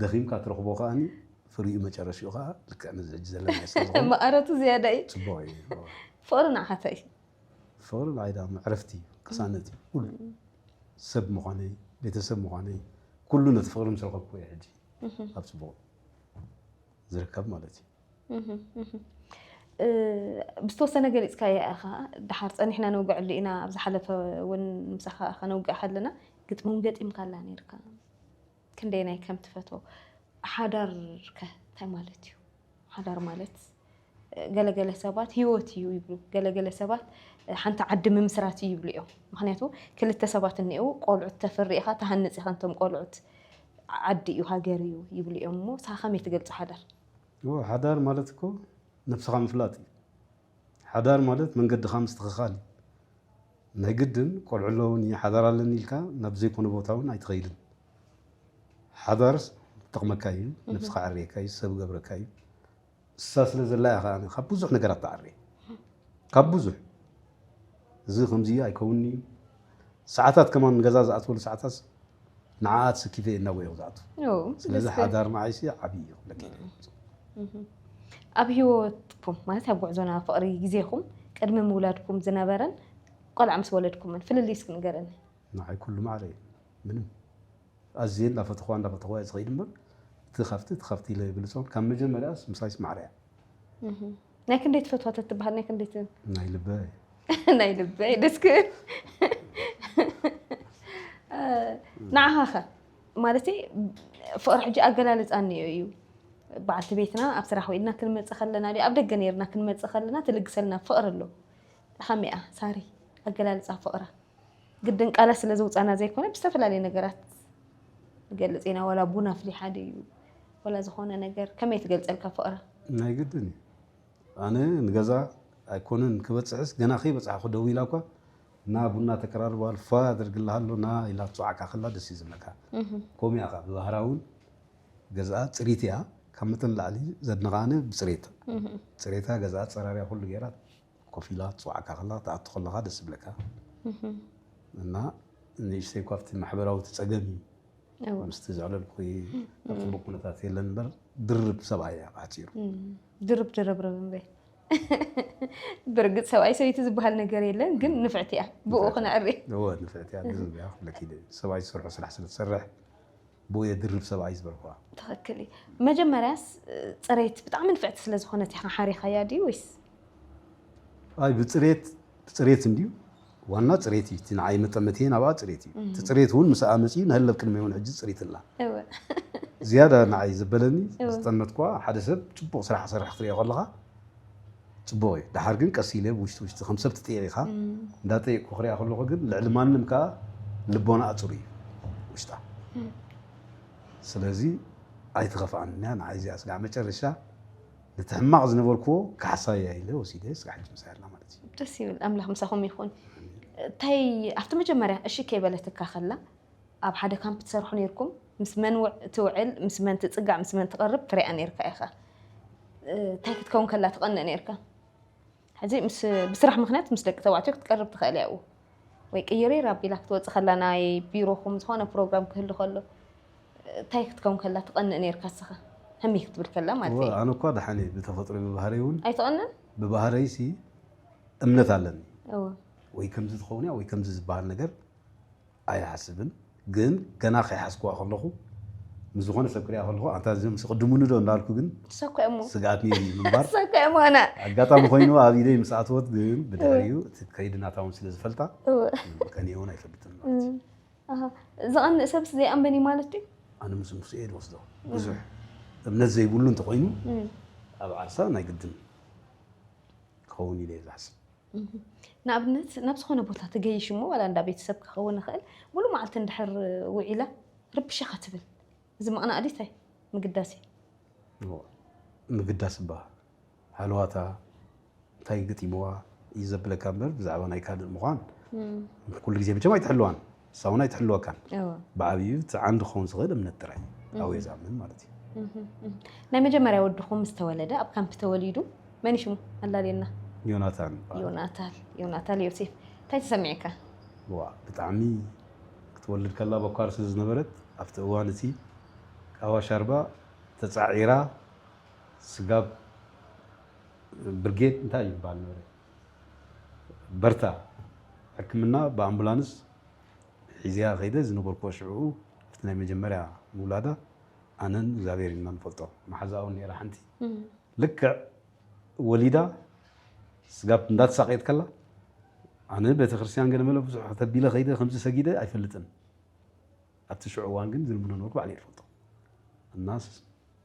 ደኺምካ ትረኽቦ ከዓኒ ፍሪኡ መጨረሽኡ ከዓ ልክዕ ነዚ ሕጂ ዘለና ስለ ዝኾነ ማእረቱ ዝያዳ እዩ
ፅቡቕ እዩ
ፍቕሪ ንዓኻ
እንታይ እዩ ፍቕሪ
ንዓይ ደኣ መዕረፍቲ እዩ፣ ቅሳነት እዩ፣ ኩሉ ሰብ ምዃነይ ቤተሰብ ምዃነይ ኩሉ ነቲ ፍቕሪ ምስ ረኸብኩ እየ ሕጂ ኣብ ፅቡቕ ዝርከብ ማለት እዩ።
ብዝተወሰነ ገሊፅካዮ ኢኻ ደሓር ፀኒሕና ነውግዐሉ ኢና ኣብ ዝሓለፈ እውን ምሳኻ ከነውግዕ ከለና ግጥሚ እውን ገጢምካላ ነይርካ ክንደየናይ ከም ትፈትዎ ሓዳር ከ እንታይ ማለት እዩ ሓዳር ማለት ገለገለ ሰባት ሂወት እዩ ይብሉ ገለገለ ሰባት ሓንቲ ዓዲ ምምስራት እዩ ይብሉ እዮም ምክንያቱ ክልተ ሰባት እኒአው ቆልዑት ተፍሪ ኢኻ ትሃንፅ ኢኻ ንቶም ቆልዑት ዓዲ እዩ ሃገር እዩ ይብሉ እዮም እሞ ንስኻ ከመይ ትገልፆ ሓዳር ሓዳር
ማለት እኮ ነብስኻ ምፍላጥ እዩ ሓዳር ማለት መንገድኻ ምስትኽኻል እዩ። ናይ ግድን ቆልዑ ኣለዉኒ ሓዳር ኣለኒ ኢልካ ናብ ዘይኮነ ቦታ እውን ኣይትኸይድን። ሓዳር ይጠቕመካ እዩ፣ ነብስኻ ኣዕርየካ እዩ፣ ሰብ ይገብረካ እዩ። ንሳ ስለ ዘላ እያ ከኣ ካብ ብዙሕ ነገራት ትዓሪ፣ ካብ ብዙሕ። እዚ ከምዚ እዩ ኣይከውንን እዩ ሰዓታት ከማን ገዛ ዝኣትወሉ ሰዓታትስ ንዓኣ ትስኪፈ እየ እናጎ እየ ዝኣቱ ስለዚ ሓዳር ንዓይሲ ዓብዪ እዩ ክብለኪ ኣብ ሂወትኩም ማለት ኣብ ጉዕዞና ፍቕሪ ግዜኹም ቅድሚ ምውላድኩም ዝነበረን ቆልዓ ምስ ወለድኩምን ፍልልይ እስኪ ንገረኒ ንዓይ ኩሉ ማዕረ እዩ ምንም ኣዝየ እንዳፈተኽዋ እንዳፈተኽዋ እየ ዝኸይድ እምበር እቲ ካብቲ እቲ ካብቲ ኢለ ኣይብልፆን ካብ መጀመርያስ ምሳይ ይስማዕረ እያ እህ፣
ናይ ክንደይ ትፈትዋ ተትበሃል ናይ ክንደይ ት- ናይ ልበይ
ናይ ልበይ
ደስ ክብል እ፣ ንዓኻ ኸ ማለት ፍቕሪ ሕጂ ኣገላልፃ እኒኦ እዩ በዓልቲ ቤትና ኣብ ስራሕ ውዒልና ክንመፅእ ከለና ድዩ ኣብ ደገ ነይርና ክንመፅእ ከለና ትልግሰልና ፍቕሪ ኣሎ ከመይ እያ ሳሪ ኣገላልፃ ፍቕራ ግድን ቃላት ስለ ዝውፃና ዘይኮነ ብዝተፈላለየ ነገራት ንገልፅ ኢና ዋላ ቡን ኣፍሊሓ ድዩ ዋላ ዝኾነ ነገር ከመይ ትገልፀልካ ፍቕራ ናይ ግድን እዩ
ኣነ ንገዛ ኣይኮነን ክበፅሕስ ገና ከይበፅሓ ክደው ኢላ እኳ እና ቡና ተቀራርበዋል ፋ ኣደርግልሃ ኣሎ ና ኢላ ትፅዋዕካ ከላ ደስ እዩ ዝብለካ ከምኡ እያ ከዓ ብባህራ እውን ገዛኣ ፅሪት እያ ካብ መጠን ላዕሊ ዘድንቃ ኣነ ብፅሬት ፅሬታ ገዛኣ ፀራርያ ኩሉ ገይራ ኮፍ ኢላ ትፅዋዕካ ከላ ትኣቱ ከለካ ደስ ዝብለካ እና ንእሽተይ እኳ ኣብቲ ማሕበራዊ ፀገም እዩ ምስቲ ዘዕለልኩ ኣብ ፅቡቅ ኩነታት የለን እምበር ድርብ ሰብኣይ እያ ብሓፂሩ ድርብ
ድርብርብ እምበይ ብርግፅ ሰብኣይ ሰበይቲ ዝበሃል ነገር የለን ግን ንፍዕቲ እያ ብኡ ክነዕሪ ንፍዕቲ
እያ ሰብኣይ ዝሰርሖ ስራሕ ስለትሰርሕ ቦየ ድርብ ሰብኣይ ዝበልኩዋ። ትኽክል እዩ
መጀመርያስ ፅሬት ብጣዕሚ ንፍዕቲ ስለ ዝኾነት ኢኻ ሓሪኻያ ድዩ ወይስ?
ኣይ ብፅሬት ብፅሬት እንድዩ ዋና ፅሬት እዩ እቲ ንዓይ መጠመትየን ኣብኣ ፅሬት እዩ እቲ ፅሬት እውን ምስኣ መፅዩ ንሀለብ ቅድመይ እውን ሕጂ ፅሪት ኣላ እወ ዝያዳ ንዓይ ዘበለኒ እወ። ዝጠመትኩዋ ሓደ ሰብ ፅቡቕ ስራሕ ክሰርሕ ክትሪኦ ከለኻ ፅቡቕ እዩ ደሓር ግን ቀስ ኢለ ውሽጢ ውሽጢ ከም ሰብ ትጥየቂኻ እንዳጠየቅኩ ክሪኣ ከለኹ ግን ልዕሊ ማንም ከዓ ልቦናኣ ፅሩይ እዩ ውሽጣ ስለዚ ኣይትኸፍኣን እያ ንዓይ እዚኣ ስጋዕ መጨረሻ ነቲ ሕማቕ ዝነበርኩዎ ካሕሳያ ኢለ ወሲደ ስጋዕ ሕጂ ምሳይ ኣላ ማለት እዩ ደስ ይብል ኣምላኽ ምሳኹም
ይኹን እንታይ ኣብቲ መጀመርያ እሺ ከይበለትካ ከላ ኣብ ሓደ ካምፕ ትሰርሑ ነርኩም ምስ መን ትውዕል ምስ መን ትጽጋዕ ምስ መን ትቐርብ ትሪኣ ነርካ ኢኻ እንታይ ክትከውን ከላ ትቐንእ ነርካ ሕዚ ብስራሕ ምክንያት ምስ ደቂ ተባዕትዮ ክትቀርብ ትኽእል እያ ወይ ቅይሪር ኣቢላ ክትወፅእ ከላ ናይ ቢሮኹም ዝኾነ ፕሮግራም ክህሉ ከሎ እንታይ ክትከውን ከላ ትቐንእ ነርካ ስኻ ህሚ ክትብል ከላ ማለት እዩ ኣነ እኳ ደሓን እየ
ብተፈጥሮ ብባህረይ እውን ኣይትቐንን
ብባህረይ ሲ
እምነት ኣለኒ ወይ ከምዚ
ትኸውን እያ ወይ ከምዚ
ዝበሃል ነገር ኣይሓስብን ግን ገና ከይሓስኩዋ ከለኹ ምስ ዝኾነ ሰብ ክሪኣ ከለኹ ኣንታ እዚኦም ምስ ቅድሙኒ ዶ እንዳልኩ ግን ሰኮሞ ስግኣት
ነይሩ ምንባር
ሰኮሞ ኣነ ኣጋጣሚ
ኮይኑ ኣብ
ኢደይ ምስ ኣተወት ግን ብድሕሪኡ እቲ ከይዲ ናታ እውን ስለ ዝፈልጣ ቀኒየ እውን ኣይፈልጥን ማለት እዩ ኣሃ፣
ዝቐንእ ሰብስ ዘይኣምበን እዩ ማለት ድዩ ኣነ ምስ ንሱ እየ
ዝወስዶ ብዙሕ እምነት ዘይብሉ እንተኮይኑ ኣብ ዓርሳ ናይ ግድን ክኸውን ኢለ እየ ዝሓስብ
ንኣብነት ናብ ዝኾነ ቦታ ትገይሽ እሞ ዋላ እንዳ ቤተሰብ ክኸውን ይኽእል ሙሉ መዓልቲ እንድሕር ውዒላ ርብሻ ከትብል እዚ ምቕናእ ድዩ እንታይ ምግዳስ እዩ
ምግዳስ እባ ሃለዋታ እንታይ ገጢምዋ እዩ ዘብለካ እምበር ብዛዕባ ናይ ካልእ ምዃን ኩሉ ግዜ መቸም ኣይትሕልዋን ንሳውን ኣይትሕልወካን ብዓብዩ እቲ ዓንዲ ክኸውን ዝኽእል እምነት ጥራይ እዩ ኣብኡ ዝኣምን ማለት እዩ
ናይ መጀመርያ ወድኹም ምስ ተወለደ ኣብ ካምፕ ተወሊዱ መን ሽሙ ኣላልየና ዮናታን ይበሃል። ዮናታል ዮናታል ዮሴፍ እንታይ ተሰሚዕካ ዋ
ብጣዕሚ ክትወልድ ከላ በኳር ስለ ዝነበረት ኣብቲ እዋን እቲ ቃዋ ሻርባ ተፃዒራ ስጋብ ብርጌድ እንታይ እዩ ይበሃል ነበረ በርታ ሕክምና ብኣምቡላንስ ሒዘያ ከይደ ዝነበርኩዎ ሽዑኡ እቲ ናይ መጀመርያ ምውላዳ ኣነን እግዚኣብሔር ኢና ንፈልጦ መሓዛኣ እውን ነይራ ሓንቲ ልክዕ ወሊዳ ስጋብ እንዳተሳቀየት ከላ ኣነ ቤተክርስትያን ገለመለ ብዙሕ ተቢለ ከይደ ከምዚ ሰጊደ ኣይፈልጥን ኣብቲ ሽዑ እዋን ግን ዝልምኖ ነበርኩ ባዕለይ እፈልጦ እናስ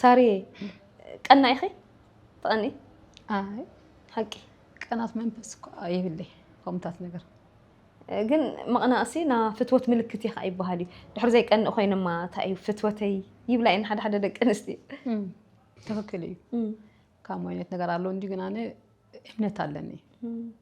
ሳርየ ቀናእ ኢኺ ትቐኒ ኣይ ሓቂ ቀናት
መንፈስ እኳ የብለይ ከምታት ነገር ግን
ምቕናእሲ ና ፍትወት ምልክት እዩ ከዓ ይበሃል እዩ ድሕሪ ዘይቀንእ ኮይንማ እንታይ እዩ ፍትወተይ ይብላ እየን ሓደ ሓደ ደቂ ኣንስትዮ ትክክል
እዩ ካብ ዓይነት ነገር ኣሎ እንጂ ግን ኣነ እምነት ኣለኒ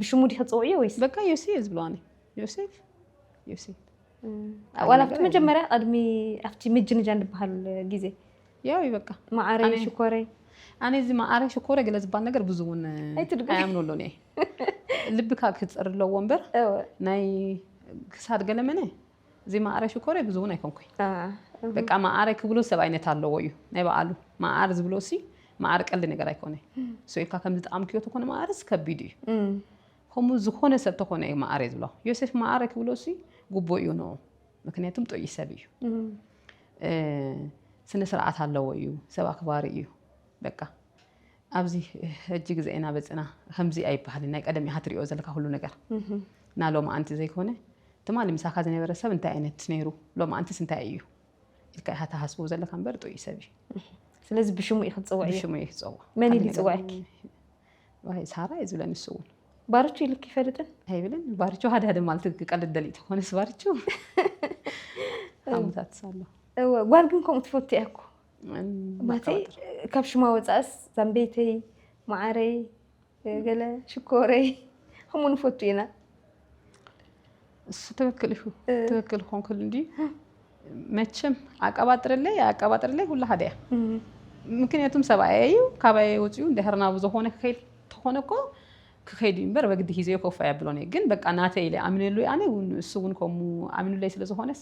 ብሽሙ ዲኺ ትፅውዕዮ ወይስ በቃ ዮሲ እየ ዝብሎ ኣነ
ዮሴፍ ዮሴፍ ዋላ
ኣብቲ መጀመርያ ቅድሚ ኣብቲ ምጅንጃን ዝበሃል ግዜ ያው እዩ በቃ
ማዓረይ ኣነ- ሽኮረይ
ኣነ እዚ መዓረ
ሽኮረ ገለ ዝበሃል ነገር ብዙ እውን ኣይትድግም። ኣይኣምነሉን እየ ልብካ ክፅር ኣለዎ እምበር እወ ናይ ክሳድ ገለመነ እዚ መኣረ ሽኮር እየ ብዙ እውን ኣይኮንኩይ በቃ መኣረ ክብሎ ሰብ ኣይነት ኣለዎ እዩ ናይ በኣሉ መኣር ዝብሎ ሲ መኣር ቀልዲ ነገር ኣይኮነ ስኢልካ ከም ዝጠኣምክዮ ተኮነ መኣርስ ከቢድ እዩ ከምኡ ዝኾነ ሰብ ተኮነ እዩ መኣረ እዩ ዝብሎ ዮሴፍ መኣረ ክብሎ ሲ ጉቦ እዩ ንኡ ምክንያቱም ጥዑይ ሰብ እዩ ስነ ስርዓት ኣለዎ እዩ ሰብ ኣክባሪ እዩ በቃ ኣብዚ ሕጂ ግዜ ኢና በጽና ከምዚ ኣይበሃልን ናይ ቀደም ኢካ ትሪኦ ዘለካ ኩሉ ነገር እና ሎማኣንቲ ዘይኮነ ትማሊ ምሳካ ዝነበረ ሰብ እንታይ ዓይነት ነይሩ ሎማኣንትስ እንታይ እዩ ኢልካ ኢካ ትሃስቦ ዘለካ እምበር ጥዑይ ሰብ እዩ ስለዚ ብሽሙ
እዩ ክትፅውዕ እዩ ብሽሙ እዩ ክፀውዕ መን እዩ
ዝፅውዐኪ ሳራ እዩ ዝብለ ንሱ እውን ባርቹ ኢልክ
ይፈልጥን ኣይብልን ባርቹ ሓደ
ሓደ ማለት ክቀልድ ደሊእ ትኾነስ ባርቹ ዓመታት ኣሎ እወ ጓል ግን ከምኡ
ትፈቱ እያ እኮ ማለተይ ካብ ሽማ ወፃእስ ዛምቤተይ ማዓረይ ገለ ሽኮረይ ከምኡ ንፈቱ ኢና እሱ ትክክል እዩ ትክክል ኮንክል እንዲ መቸም ኣቀባጥርለይ ኣቀባጥርለይ ኩላ ሓደ እያ ምክንያቱም ሰብኣየ እዩ ካባየ ወፅኡ እንድሕር ናብ ዝኾነ ክኸይድ ተኾነ እኮ ክኸይድ እዩ እምበር በግዲ ሂዘዮ ኮፍ ኣያብሎን እየ ግን በቃ ናተይ ኢለ ኣምነሉ ኣነ እሱ እውን ከምኡ ኣምኑለይ ስለዝኾነስ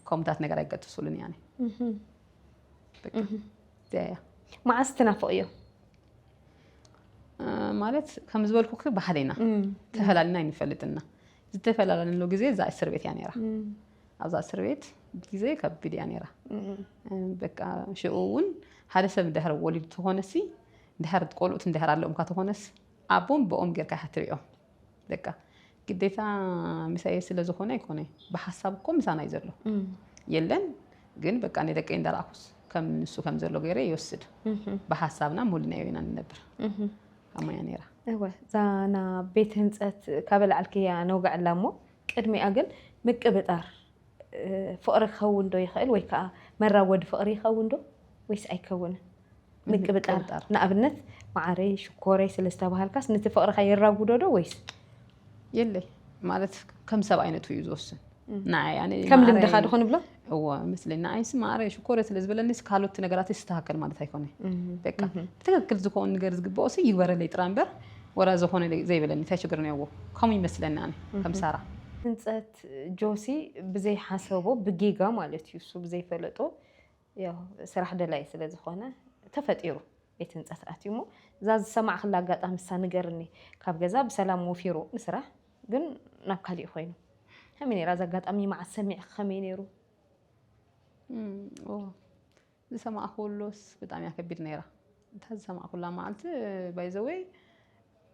ከምኡታት ነገር ኣይገጥሱልን እያ መዓስ ትናፍቕዮ
ማለት ከም ዝበልኩ ባህልና ተፈላልና ኣይንፈልጥና ዝተፈላለንሉ ግዜ እዛ እስር ቤት እያ ነራ ኣብዛ እስር ቤት ግዜ ከቢድ እያ ነራ በቃ ሽኡ እውን ሓደ ሰብ ድሕር ወሊድ ተኾነሲ ድሕር ቆልኡት ድሕር ኣለኡምካ ተኾነስ ኣቦም ብኦም ጌርካ ይሓትርኦም በቃ ግዴታ ምሳየ ስለ ዝኾነ ኣይኮነ ብሓሳብ እኮ ምሳና እዩ ዘሎ የለን ግን በቃ ናይ ደቀይ እንዳረኣኩስ ከም ንሱ ከም ዘሎ ገይረ ይወስድ ብሓሳብና ሙሉናዮ ኢና ንነብር ኣሞያ ነይራ እወ እዛ
ና ቤት ህንፀት ካበላዕልክያ ነውግዐላ እሞ ቅድሚኣ ግን ምቅብጣር ፍቕሪ ክኸውንዶ ይኽእል ወይ ከዓ መራወዲ ፍቕሪ ይኸውንዶ ወይስ ኣይከውንን ምቅብጣር ንኣብነት መዓረይ ሽኮረይ ስለ ዝተባሃልካስ ነቲ ፍቕርኻ የራጉዶዶ ወይስ የለይ
ማለት ከም ሰብ ዓይነቱ እዩ ዝወስን ንዓይ ኣነ ከም ልምድኻ ዶ ክንብሎ
እዎ ምስለይ
ንዓይስ ማዕረ ሽኮረ ስለ ዝበለኒስ ካልኦት ነገራት ይስተካከል ማለት ኣይኮነ በቃ ትክክል ዝኾን ነገር ዝግብኦ ሲ ይግበረለይ ጥራ እምበር ወላ ዝኾነ ዘይበለኒ እንታይ ችግር ነዎ ከምኡ ይመስለኒ ኣነ ከም ሳራ ህንፀት ጆሲ
ብዘይ ሓሰቦ ብጌጋ ማለት እዩ እሱ ብዘይ ፈለጦ ያው ስራሕ ደላይ ስለ ዝኾነ ተፈጢሩ ቤት ህንፀት ኣትዩ እሞ እዛ ዝሰማዕክላ ኣጋጣሚ እሳ ንገርኒ ካብ ገዛ ብሰላም ወፊሩ ንስራሕ ግን ናብ ካሊእ ኮይኑ ከመይ ነይራ እዛ ኣጋጣሚ መዓስ ሰሚዕክ ከመይ ነይሩ እም፣ ኦ
ዝሰማዕኩሉስ ብጣዕሚ እያ ከቢድ ነይራ እታ ዝሰማዕኩላ መዓልቲ ባይ ዘ ወይ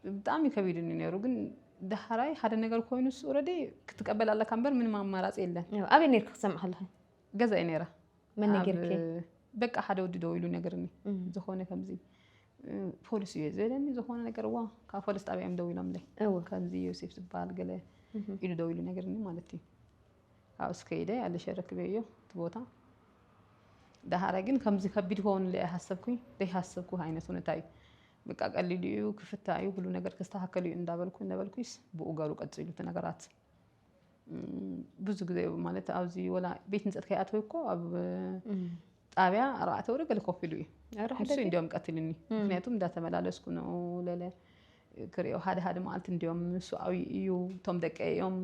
ብጣዕሚ ከቢድኒ ነይሩ ግን ዳሕራይ ሓደ ነገር ኮይኑስ ኦልሬዲ ክትቀበል ኣለካ እምበር ምንም ኣማራፂ የለን ያው ኣበይ ነርኪ ክሰምዕ
ከለኺ ገዛ እየ ነይራ
መን ኣብ-
ነጊርኪ በቃ ሓደ
ወዲ ደው ኢሉ ነገርኒ እም፣ ዝኾነ ከምዚ እ፣ ፖሊስ እዩ ዝበለኒ ዝኾነ ነገር ዋ ካብ ፖሊስ ጣብያ እዮም ደው ኢሎምለይ እወ ከምዚ ዮሴፍ ዝበሃል ገለ እም፣ ኢሉ ደው ኢሉ ነገርኒ ማለት እዩ ኣብ እስከ ኢለ ኣለሸ ረክበዮ እቲ ቦታ ዳሃረ ግን ከምዚ ከቢድ ክኸውን ለ ሃሰብኩኝ ዘይሃሰብኩ ዓይነት ሁነታ እዩ በቃ ቀሊሉ እዩ ክፍታ እዩ ሁሉ ነገር ክስተካከል እዩ እንዳበልኩ ነበልኩስ ብኡ ገሩ ቀፂሉ እቲ ነገራት ብዙ ግዜ ማለት ኣብዚ ወላ ቤት ንፀት ከይኣተወ እኮ ኣብ ጣብያ ኣርባዕተ ወረ ገለ ኮፍ ኢሉ እዩ ኧረ ንሱ ሕደገ እንዲዮም ቀትልኒ እም። ምክንያቱ እንዳተመላለስኩ ነው ለለ ክሪኦ ሓደ ሓደ መዓልቲ እንዲዮም ንሱ ኣብይ እዩ እቶም ደቀ እዮም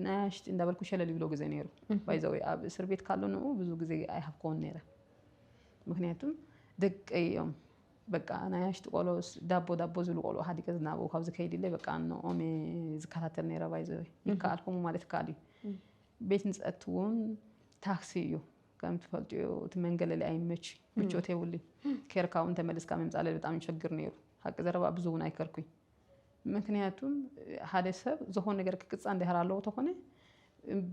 ናያሽቲ እንዳበልኩ ሸለል ይብሎ ግዜ ነይሩ ባይዘወ ኣብ እስር ቤት ካሎ ንኡ ብዙ ግዜ ኣይሃብኮን ነይረ ምክንያቱ ደቀይ እዮም በቃ ናያሽቲ ቆሎ ዳቦ ዳቦ ዝብሉ ቆልዑ ሃዲገ ዝናበው ካብዚ ከይድ ኢለ በቃ ንኦም እየ ዝከታተል ነይረ ባይዘወ ይከኣልኩሙ ማለት ይከኣል እዩ ቤት ንፀት እውን ታክሲ እዩ ከም ትፈልጥዮ እቲ መንገለሊ ኣይመች ምቾት የብሉ ኬርካ እውን ተመልስካ ምምፃለ ብጣዕሚ ይሸግር ነይሩ ሓቂ ዘረባ ብዙ እውን ኣይከርኩኝ ምክንያቱም ሓደ ሰብ ዝኾነ ነገር ክቅፃ እንድሕር ኣለዎ ተኾነ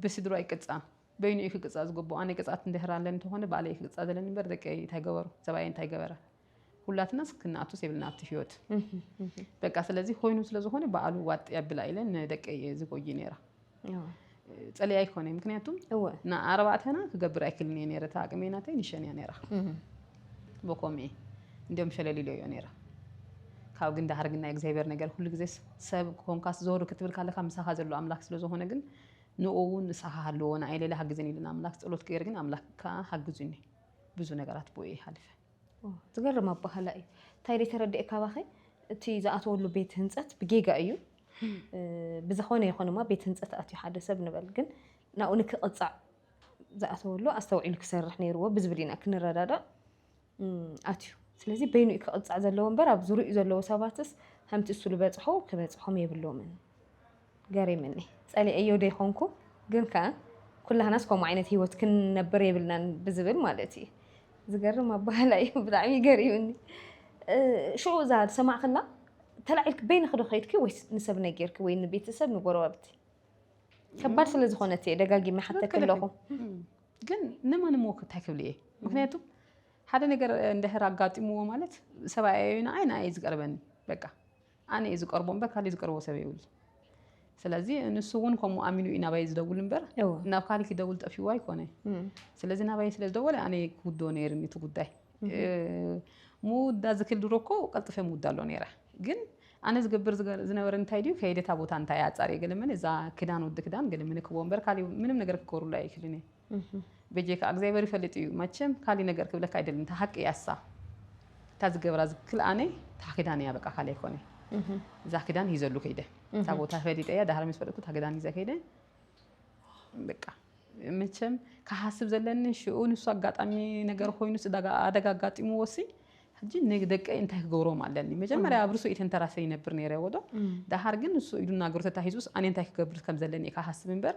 ብስድሮ ኣይቅፃን በይኑ እዩ ክቅፃ ዝግብኦ ኣነ ቅፅት እንድሕር ኣለኒ ተኾነ ባዕለ ክቅፃ ዘለኒ እበር ደቂ እንታይ ገበሩ ሰብኣየ እንታይ ገበረ ሁላትና ክንኣቱስ የብልና ኣብቲ ህይወት በቃ ስለዚ ኮይኑ ስለዝኾነ በዓሉ ዋጥ የብላ ኢለ ንደቀይ እየ ዝጎይ ነይራ ፀሊኣ ኣይኮነ ምክንያቱ ንኣርባዕተና ክገብር ኣይክልን እየ ነረ እቲ ኣቅሜ ናተይ ንሸን እያ ነራ በኮም እየ እንዲም ሸለሊሎ እዮ ነራ ካብ ግን ዳሓር ግን ናይ እግዚኣብሔር ነገር ኩሉ ግዜ ሰብ ኮንካስ ዞር ክትብል ካለካ ምሳኻ ዘሎ ኣምላክ ስለዝኾነ ግን ንኡ እውን ንስኻ ሃለዎ ንኣይ ሌላ ሃግዘን ኢልና ኣምላክ ፀሎት ገይር ግን ኣምላክ ከዓ ሃግዙኒ ብዙ ነገራት ብኡ ይሃልፈ ዝገርም
ኣባህላ እዩ እንታይ ደይ ተረድኤ ካባኸ እቲ ዝኣተወሉ ቤት ህንፀት ብጌጋ እዩ ብዝኾነ ይኾን እማ ቤት ህንፀት ኣትዩ ሓደ ሰብ ንበል ግን ናብኡ ንክቕፃዕ ዝኣተወሉ ኣስተውዒሉ ክሰርሕ ነይርዎ ብዝብል ኢና ክንረዳዳእ ኣትዩ ስለዚ በይኑ እዩ ክቕፃዕ ዘለዎ እምበር ኣብ ዙሪኡ ዘለዎ ሰባትስ ከምቲ እሱ ዝበፅሖ ክበፅሖም የብሎምን ገሪምኒ ጸሊኤዮ ደይኮንኩ ግን ከኣ ኩላህናስ ከምኡ ዓይነት ሂወት ክንነብር የብልናን ብዝብል ማለት እዩ ዝገርም ኣባህላ እዩ ብጣዕሚ ገሪምኒ ሽዑ እዛ ዝሰማዕክላ ተላዒልኪ በይንኺ ዶ ከይድኪ ወይስ ንሰብ ነጊርኪ ወይ ንቤተሰብ ንጎረባብቲ ከባድ ስለ ዝኾነት እየ ደጋጊመ ሓተኪ ኣለኹ ግን
ንማን እሞ እንታይ ክብል እየ ምክንያቱ ሓደ ነገር እንድሕር ኣጋጢምዎ ማለት ሰብኣይ እዩ ንዓይ ንዓይ ዝቀርበኒ በቃ ኣነ እየ ዝቀርቦ እምበር ካሊእ ዝቀርቦ ሰብ የብሉን ስለዚ ንሱ እውን ከምኡ ኣሚኑ እዩ ናባይ ዝደውል እምበር ናብ ካሊእ ክደውል ጠፊዎ ኣይኮነ ስለዚ ናባይ ስለ ዝደወለ ኣነ ክውዶ ነይርኒ እቲ ጉዳይ ምውዳ ዝክል ድሮ እኮ ቀልጥፈ ምውዳ ኣሎ ነይረ ግን ኣነ ዝገብር ዝነበረ እንታይ ድዩ ከይደ እታ ቦታ እንታይ ኣፃር ገለመለ እዛ ክዳን ወዲ ክዳን ገለመለ ክቦ እምበር ካሊእ ምንም ነገር ክገብሩሉ ኣይክልን እየ በጀካ ኣግዚኣብሔር ይፈልጥ እዩ መቸም ካሊ ነገር ክብለካ ኣይደልን እታ ሃቂ እያ እሳ እታ ዝገብራ ዝክል ኣነ እታ ክዳን እያ በቃ ካሊ ኣይኮነ እዛ ክዳን ሂዘሉ ከይደ እታ ቦታ ፈሊጠ እያ ዳህር ምስ ፈለጥኩ እታ ክዳን ሂዘ ከይደ በቃ መቸም ክሓስብ ዘለኒ ሽኡ ንሱ ኣጋጣሚ ነገር ኮይኑ ኣደጋ ኣጋጢሙ ወሲ ሕጂ ንደቀ እንታይ ክገብሮም ኣለኒ መጀመርያ ኣብ ርሱ ኢተንተራሰ ይነብር ነረ ወዶ ዳሃር ግን ንሱ ኢዱ ናገሩ ተታሂዙስ ኣነ እንታይ ክገብር ከም ዘለኒ እየ ክሓስብ እምበር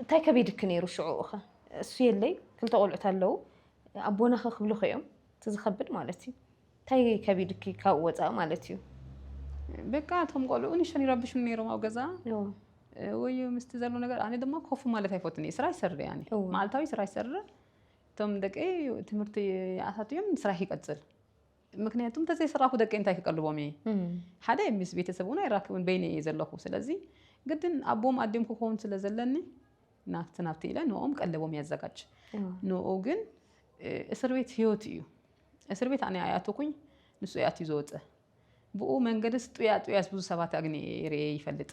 እንታይ ከቢድኪ ነይሩ ሽዑኡኸ እሱ የለይ ክልተ ቆልዑት ኣለዉ ኣቦናኸ ክብሉኸ እዮም እቲ ዝኸብድ ማለት እዩ እንታይ ከቢድኪ ካብኡ ወፃኢ ማለት እዩ በቃ
እቶም ቆልዑ ንሸን ይረብሹን ነይሮም ኣብ ገዛ ወይ ምስቲ ዘሎ ነገር ኣነ ድማ ኮፉ ማለት ኣይፈትን እየ ስራ ይሰርር እያ መዓልታዊ ስራ ይሰርር እቶም ደቂ ትምህርቲ ይኣታትዮም ስራሕ ይቀፅል ምክንያቱ እንተዘይሰራኩ ደቀይ እንታይ ክቀልቦም እየ ሓደ ምስ ቤተሰብ እውን ኣይራክብን በይነ እየ ዘለኹ ስለዚ ግድን ኣቦም ኣዲም ክኸውን ስለ ዘለኒ ናብቲ ናብቲ ኢለ ንኦም ቀለቦም ያዘጋጅ ንኡ ግን እስር ቤት ህይወት እዩ እስር ቤት ኣነ ኣይኣተኩኝ ንሱ እያትዩ ዘወፀ ብኡ መንገድስ ጥያ ጥያስ ብዙ ሰባት ኣግኒ ርኤ ይፈልጥ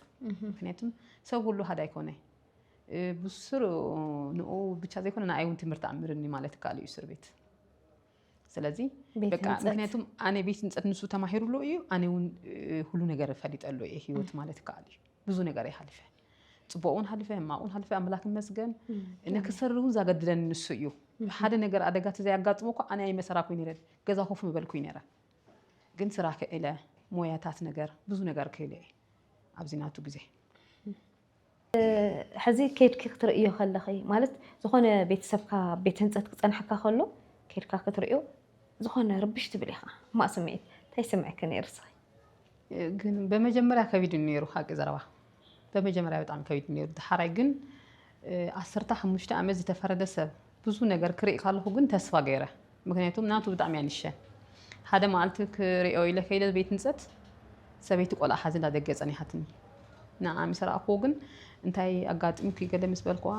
ምክንያቱም ሰብ ሁሉ ሃዳ ኣይኮነ ብስሩ ንኡ ብቻ ዘይኮነ ንኣይ እውን ትምህርቲ ኣምርኒ ማለት ይከኣል እዩ እስር ቤት ስለዚ ምክንያቱ ኣነ ቤት ንፀት ንሱ ተማሂሩሉ እዩ ኣነ ውን ሁሉ ነገር ፈሊጠሉ እየ ሂወት ማለት ይከኣል እዩ ብዙ ነገር ይሃልፈ ፅቡቅውን ሃልፈ ሕማቅውን ሃልፈ ኣምላክ መስገን ንክሰሪ እውን ዛገድደኒ ንሱ እዩ ሓደ ነገር ኣደጋ ተዘይኣጋጥሞ እኳ ኣነ ኣይመሰራኩይ ነረ ገዛ ኮፍ ምበልኩይ ነረ ግን ስራ ክእለ ሞያታት ነገር ብዙ ነገር ክእለ እየ ኣብዚ ናቱ ግዜ
ሕዚ ከይድኪ ክትርእዮ ከለኺ ማለት ዝኾነ ቤተሰብካ ቤት ህንፀት ክፀንሐካ ከሎ ከይድካ ክትርእዮ ዝኾነ ርብሽ ትብል ኢኻ ማእ ስምዒት እንታይ ይስምዐኪ ነይሩ እስኺ?
ግን በመጀመርያ ከቢድ ነይሩ ሓቂ ዘረባ በመጀመርያ ብጣዕሚ ከቢድ ነይሩ። ድሓራይ ግን ዓሰርተ ሓሙሽተ ዓመት ዝተፈረደ ሰብ ብዙ ነገር ክሪኢ ካለኩ ግን ተስፋ ገይረ ምክንያቱም ናቱ ብጣዕሚ እያ ንሸ ሓደ መዓልቲ ክሪኦ ኢለ ከይደ ቤት ንፀት ሰበይቲ ቆልዓ ሓዚ እንዳደገ ፀኒሓትኒ ንዓ ምስ ረኣኩዎ ግን እንታይ ኣጋጢምኩ ገለ ምስ በልኩዋ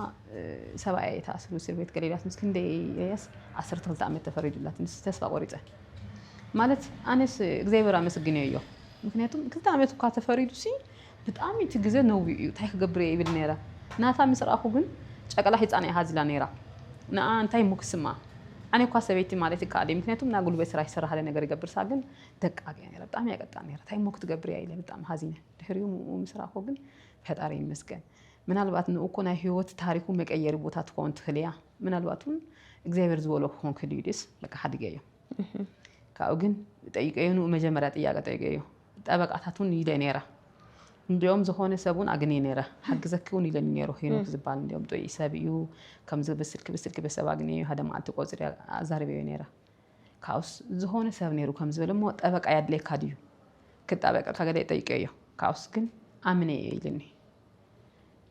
ሰብኣያ እየ ተኣሲሩ እስር ቤት ገሌላት ምስ ክንደይ እያስ ዓሰርተ ክልተ ዓመት ተፈሪዱላት ንስ ተስፋ ቆሪፀ ማለት ኣነስ እግዚኣብሔር ኣመስግነ እዮ ምክንያቱም ክልተ ዓመት እኳ ተፈሪዱ ሲ ብጣሚ እቲ ግዘ ነዊኡ እዩ ታይ ክገብር እየ ይብል ነይረ ናታ ምስ ረኣኩ ግን ጨቅላ ሂፃን እያ ሃዚላ ነይራ ንኣ እንታይ እሞ ክስምኣ ኣነ እኳ ሰበይቲ ማለት ይካኣለይ ምክንያቱ እና ጉልበት ስራ ይሰራ ሃለ ነገር ይገብር እሳ ግን ደቃቅ እያ ነይራ ብጣሚ እያ ቀጣን ነይራ ታይ እሞ ክትገብር እያ ኢለ ብጣሚ ሃዚነ ድሕሪኡ ምኡ ምስ ረኣኩ ግን ፈጣሪ ይመስገን ምናልባት ንኡ እኮ ናይ ሂወት ታሪኩ መቀየሪ ቦታ ትኮን ትክል እያ ምናልባት እውን እግዚኣብሔር ዝበሎ ክኮን ክህልዩ ድዩስ በቃ ሓዲገዮ። ካብኡ ግን ጠይቀዮ ንኡ መጀመርያ ጥያቀ ጠይቀዮ ጠበቃታት እውን ኢለ ነይረ እንዲኦም ዝኾነ ሰብ እውን ኣግኒ ነይረ ሓግዘኪ እውን ኢለኒ ነይሩ ሄኖክ ዝበሃል እንዲኦም ጥዑይ ሰብ እዩ ከምዚ ብስልኪ ብስልኪ በሰብ ኣግኒዮ ሓደ መዓልቲ ቆፅሪ ኣዛሪበዮ ነይረ ካብኡስ ዝኾነ ሰብ ነይሩ ከም ዝበለ እሞ ጠበቃ ያድለየካ ድዩ ክጣበቀልካ ገለ ጠይቀዮ ካብኡስ ግን ኣምነ እየ ኢልኒ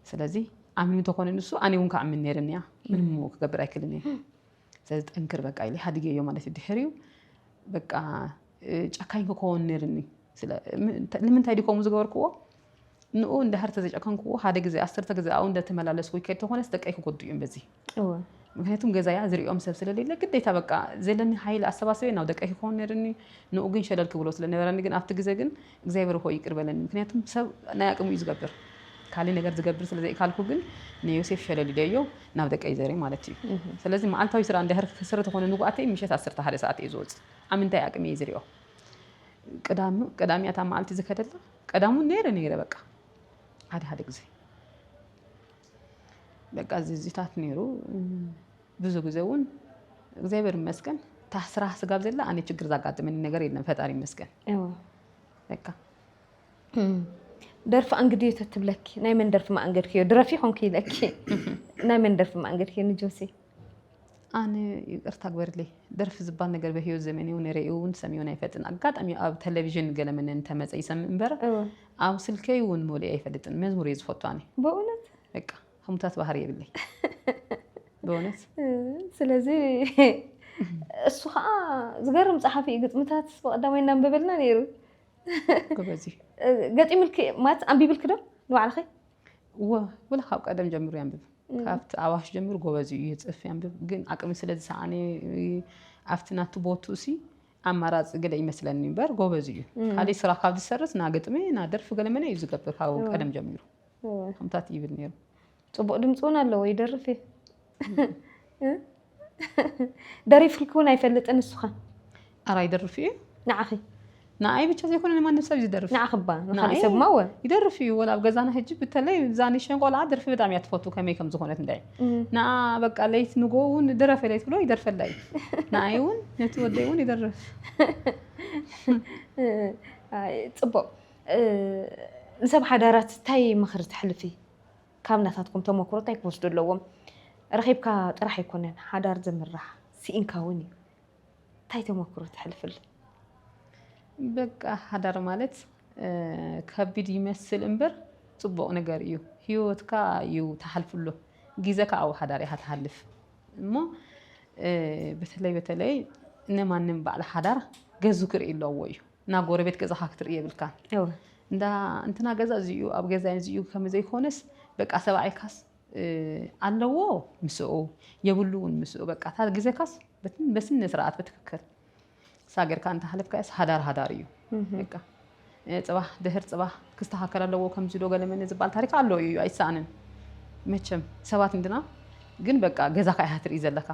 ስለዚ ኣምኒ ተኾነ ንሱ ኣነ እውን ከኣምን ነይርኒ እያ ምንም ክገብር ኣይክልን እየ ስለዚ ጠንክር በቃ ኢለ ሃዲገዮ ማለት እዩ ድሕሪኡ በቃ ጨካኝ ክኸውን ነይርኒ ንምንታይ ድዩ ከምኡ ዝገበርክዎ ንኡ እንዳሃር ተዘጨከንክዎ ሓደ ግዜ ኣስርተ ግዜ ኣብኡ እንዳተመላለስ ወይ ከድ ተኾነስ ደቀይ ክጎዱ እዮም በዚ ምክንያቱም ገዛያ ዝሪኦም ሰብ ስለሌለ ግዴታ በቃ ዘለኒ ሓይሊ ኣሰባስበ ናብ ደቀይ ክኸውን ነርኒ ንኡ ግን ሸለል ክብሎ ስለነበረኒ ግን ኣብቲ ግዜ ግን እግዚኣብሔር ሆይ ይቅር በለኒ ምክንያቱም ሰብ ናይ ኣቅሙ እዩ ዝገብር ካልእ ነገር ዝገብር ስለ ዘይካልኩ ግን ንዮሴፍ ሸለል ኢለዮ ናብ ደቀይ ዘርእ ማለት እዩ ስለዚ መዓልታዊ ስራ እንድሕር ክስር ተኾነ ንጉኣተይ ምሸት ዓሰርተ ሓደ ሰዓት እየ ዝወፅእ ኣብ ምንታይ ኣቅሚ እየ ዝሪኦ ቅዳም ቅዳም እያ እታ መዓልቲ ዝከደላ ቀዳም እውን ነይረ ነይረ በቃ ሓደ ሓደ ግዜ በቃ ዝዚታት ነይሩ ብዙ ግዜ እውን እግዚኣብሔር ይመስገን ታስራ ስጋብ ዘላ ኣነ ችግር ዛጋጥመኒ ነገር የለን ፈጣሪ ይመስገን በቃ
ደርፊ ኣንግድዮ ተትብለኪ ናይ መን ደርፊ ማእንገድክዮ ድረፊ ኮንኪ ኢለኪ ናይ መን ደርፊ ማእንገድክዮ ንጆሲ ኣነ
ይቅርታ ግበርለይ ደርፊ ዝባል ነገር በህይወት ዘመን ይሁን ርእዩ እውን ሰሚዮን ኣይፈጥን ኣጋጣሚ ኣብ ቴሌቪዥን ገለመን እንተመፀ ይሰምእ እምበር ኣብ ስልከይ እውን ሞሊእ ኣይፈልጥን መዝሙር እየ ዝፈቱ ኣነ በእውነት በቃ
ህሙታት
ባህሪ የብለይ ብእውነት
ስለዚ እሱ ከዓ ዝገርም ፀሓፊ እዩ ግጥምታት ብቀዳማይ እናንበበልና ነይሩ ጎበዝ
እዩ
ገጢምልኪ ማለት ኣንቢብልኪ ዶ ንባዕልኺ እወ
ወላ ካብ ቀደም ጀምሩ ያንብብ ካብቲ ኣዋሽ ጀምሩ ጎበዝ እዩ ይፅፍ ያንብብ ግን ኣቅሚ ስለ ዝሰኣነ ኣብቲ ናቱ ቦቱ እሲ ኣማራፂ ገለ ይመስለኒ እምበር ጎበዝ እዩ ካልእ ስራ ካብ ዝሰርስ ና ግጥሚ ና ደርፊ ገለመለ እዩ ዝገብር ካብ ቀደም ጀሚሩ ከምታት ይብል ነይሩ። ፅቡቅ ድምፂ እውን ኣለዎ ይደርፍ እዩ
ደሪፍልኪ እውን ኣይፈልጥን ንስኻ ኣራ ይደርፍ
እዩ ንዓኺ
ንኣይ
ብቻ ዘይኮነ ንማንም ሰብ ዝደርፍ ንዓኺ እባ ንካሊእ ሰብ
ማወ ይደርፍ እዩ ወላ ኣብ
ገዛና ሕጂ ብተለይ ዛኒሸን ቆልዓ ደርፊ በጣም እያ ትፈቱ ከመይ ከም ዝኾነት እንታይ ንኣ በቃ ለይት ንጎ እውን ድረፍ ለይት ብሎ ይደርፈላ እዩ ንኣይ እውን ነቲ ወደይ እውን ይደርፍ
ፅቡቅ ንሰብ ሓዳራት እንታይ ምኽሪ ተሕልፊ? ካብ ናታትኩም ተሞክሮ እንታይ ክወስዱ ኣለዎም? ረኺብካ ጥራሕ ኣይኮነን ሓዳር ዝምራሕ ስኢንካ እውን እዩ። እንታይ ተሞክሮ ተሕልፍሉ?
በቃ ሓዳር ማለት ከቢድ ይመስል እምበር ፅቡቕ ነገር እዩ። ህይወትካ እዩ ተሓልፍሉ ግዜካ ኣብ ሓዳር ኢኻ ትሓልፍ እሞ በተለይ በተለይ እነማንም በዓል ሓዳር ገዙ ክርኢ ኣለዎ እዩ። እና ጎረቤት ገዛኻ ክትርኢ የብልካን እንዳ እንትና ገዛ እዚኡ ኣብ ገዛ እዚኡ ከምዘይኮነስ በቃ ሰብኣይካስ ኣለዎ ምስኡ የብሉ እውን ምስኡ በቃ እታ ግዜካስ በስነ ስርዓት ብትክክል ሳገርካ እንተሃለፍካስ ሃዳር ሃዳር እዩ በቃ ፅባሕ ድህር ፅባሕ ክስተካከል ኣለዎ ከምዚ ዶ ገለመኒ ዝበሃል ታሪክ ኣሎ እዩ ኣይሰኣንን መቸም ሰባት እንድና ግን በቃ ገዛካ ኢካ ትርኢ ዘለካ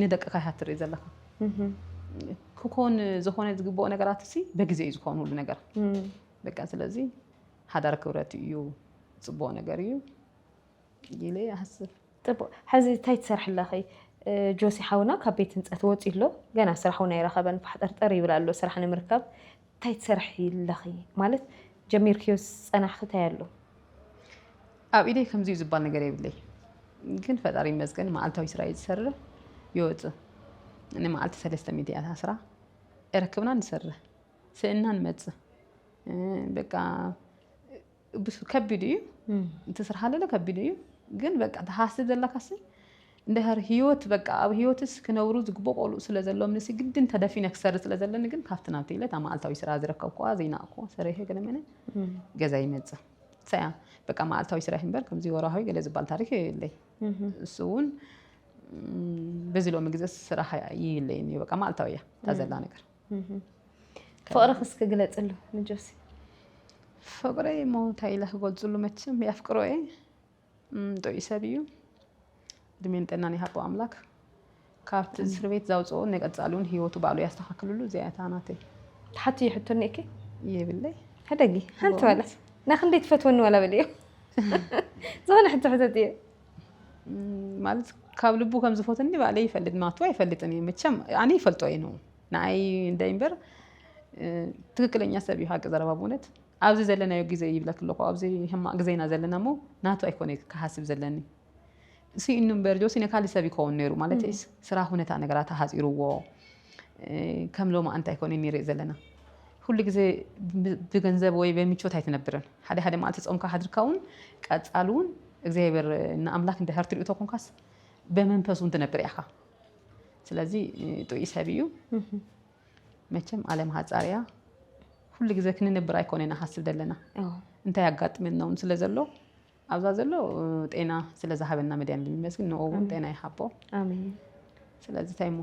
ንደቅካ ኢካ ትርኢ ዘለካ ክኮን ዝኮነ ዝግብኦ ነገራት ሲ በግዜ እዩ ዝኮን ሁሉ ነገር በቃ ስለዚ ሓዳር ክብረት እዩ ፅቡቅ ነገር እዩ ኢለ ይሓስብ ፅቡቅ ሕዚ
እንታይ ትሰርሒ ኣለኺ ጆሲ ሓውና ካብ ቤት ህንፀት ወፂኡ ኣሎ ገና ስራሕ እውን ኣይረኸበን ፋሕጠርጠር ይብል ኣሎ ስራሕ ንምርካብ ታይ ትሰርሒ ኣለኺ ማለት ጀሚርክዮስ ዝፀናሕኺ ታይ ኣሎ?
ኣብ ኢደይ ከምዚ እዩ ዝባል ነገር የብለይ ግን ፈጣሪ ይመስገን መዓልታዊ ስራይ ዝሰርህ ይወፅእ ንመዓልቲ ሰለስተ ሚእቲ እያ ታስራ እረክብና ንሰርህ ስእና ንመፅእ በቃ ብሱ ከቢድ እዩ እቲ ስራሕ ኣለለ ከቢድ እዩ ግን በቃ ተሓስብ ዘለካሲ እንድሕር ህይወት በቃ ኣብ ህይወትስ ክነብሩ ዝግቦ ቆልኡ ስለ ዘለዎም ንሲ ግድን ተደፊነ ክሰሪ ስለ ዘለኒ ግን ካብቲ ናብቲ ኢለ እታ መዓልታዊ ስራ ዝረከብኩዋ ዘይናእኩዎ ሰሪሐ ገለመለ ገዛ ይመፅእ ሳያ በቃ መዓልታዊ ስራሕ እምበር ከምዚ ወርሃዊ ገለ ዝበሃል ታሪክ የለይ እሱ እውን በዚ ሎሚ ግዘ ስራሕ ይለየኒ በቃ መዓልታዊ እያ እታ ዘላ ነገር
ፍቅርክ እስኪ ግለፅሉ ንጆሲ
ፍቅሪ እሞ እንታይ ኢለ ክገልፅሉ መቸም የፍቅሮ እየ ጥዑይ ሰብ እዩ እድሜን ጥዕናን ይሃቦ ኣምላክ ካብቲ እስር ቤት ዘውፅኦ ንቀፃሊ እውን ሂወቱ ባዕሉ ያስተካክልሉ እዚኣ እታ ናተይ ተሓቲ
ይሕቶኒ እኪ የብለይ
ሕደጊ
ሓንቲ ዋላ ናክንደይ ትፈትወኒ ዋላ በልዮ ዝኾነ ሕቶ ሕተት እየ
ማለት ካብ ልቡ ከም ዝፈትኒ ባዕለይ ይፈልጥ ናቱ ኣይፈልጥን እዩ መቸም ኣነ ይፈልጦ እዩ ነው ንኣይ እንደ እምበር እ፣ ትክክለኛ ሰብ እዩ ሓቂ ዘረባ ብእውነት ኣብዚ ዘለናዮ ግዜ ይብለክ ኣለኹ ኣብዚ ሕማቅ ግዜ ኢና ዘለና እሞ ናቱ ኣይኮነ ክሓስብ ዘለኒ ስኢኑ እምበር ጆሲ ነካሊ ሰብ ይከውን ነይሩ ማለት ስራ ሁነታ ነገራት ኣሃፂርዎ ከም ሎማኣንቲ ኣይኮነይ ንሪእ ዘለና ኩሉ ግዜ ብገንዘብ ወይ በምቾት ኣይትነብርን ሓደ ሓደ መዓልቲ ጾምካ ሓድርካ ውን ቀጻሊ ውን እግዚኣብሔር ንኣምላክ እንድሕር ትሪኡ ተኮንካስ በመንፈስ ውን ትነብር ኢካ ስለዚ ጥዑይ ሰብ እዩ መቸም ኣለም ሃጻር እያ ኩሉ ግዜ ክንነብር ኣይኮነይ ንሓስብ ዘለና እንታይ ኣጋጥመና ውን ስለ ዘሎ ኣብዛ ዘሎ ጤና ስለ ዝሃበና መድያን ንመስግን ንኡ እውን ጤና ይሃቦ
ስለዚ
እንታይ እሞ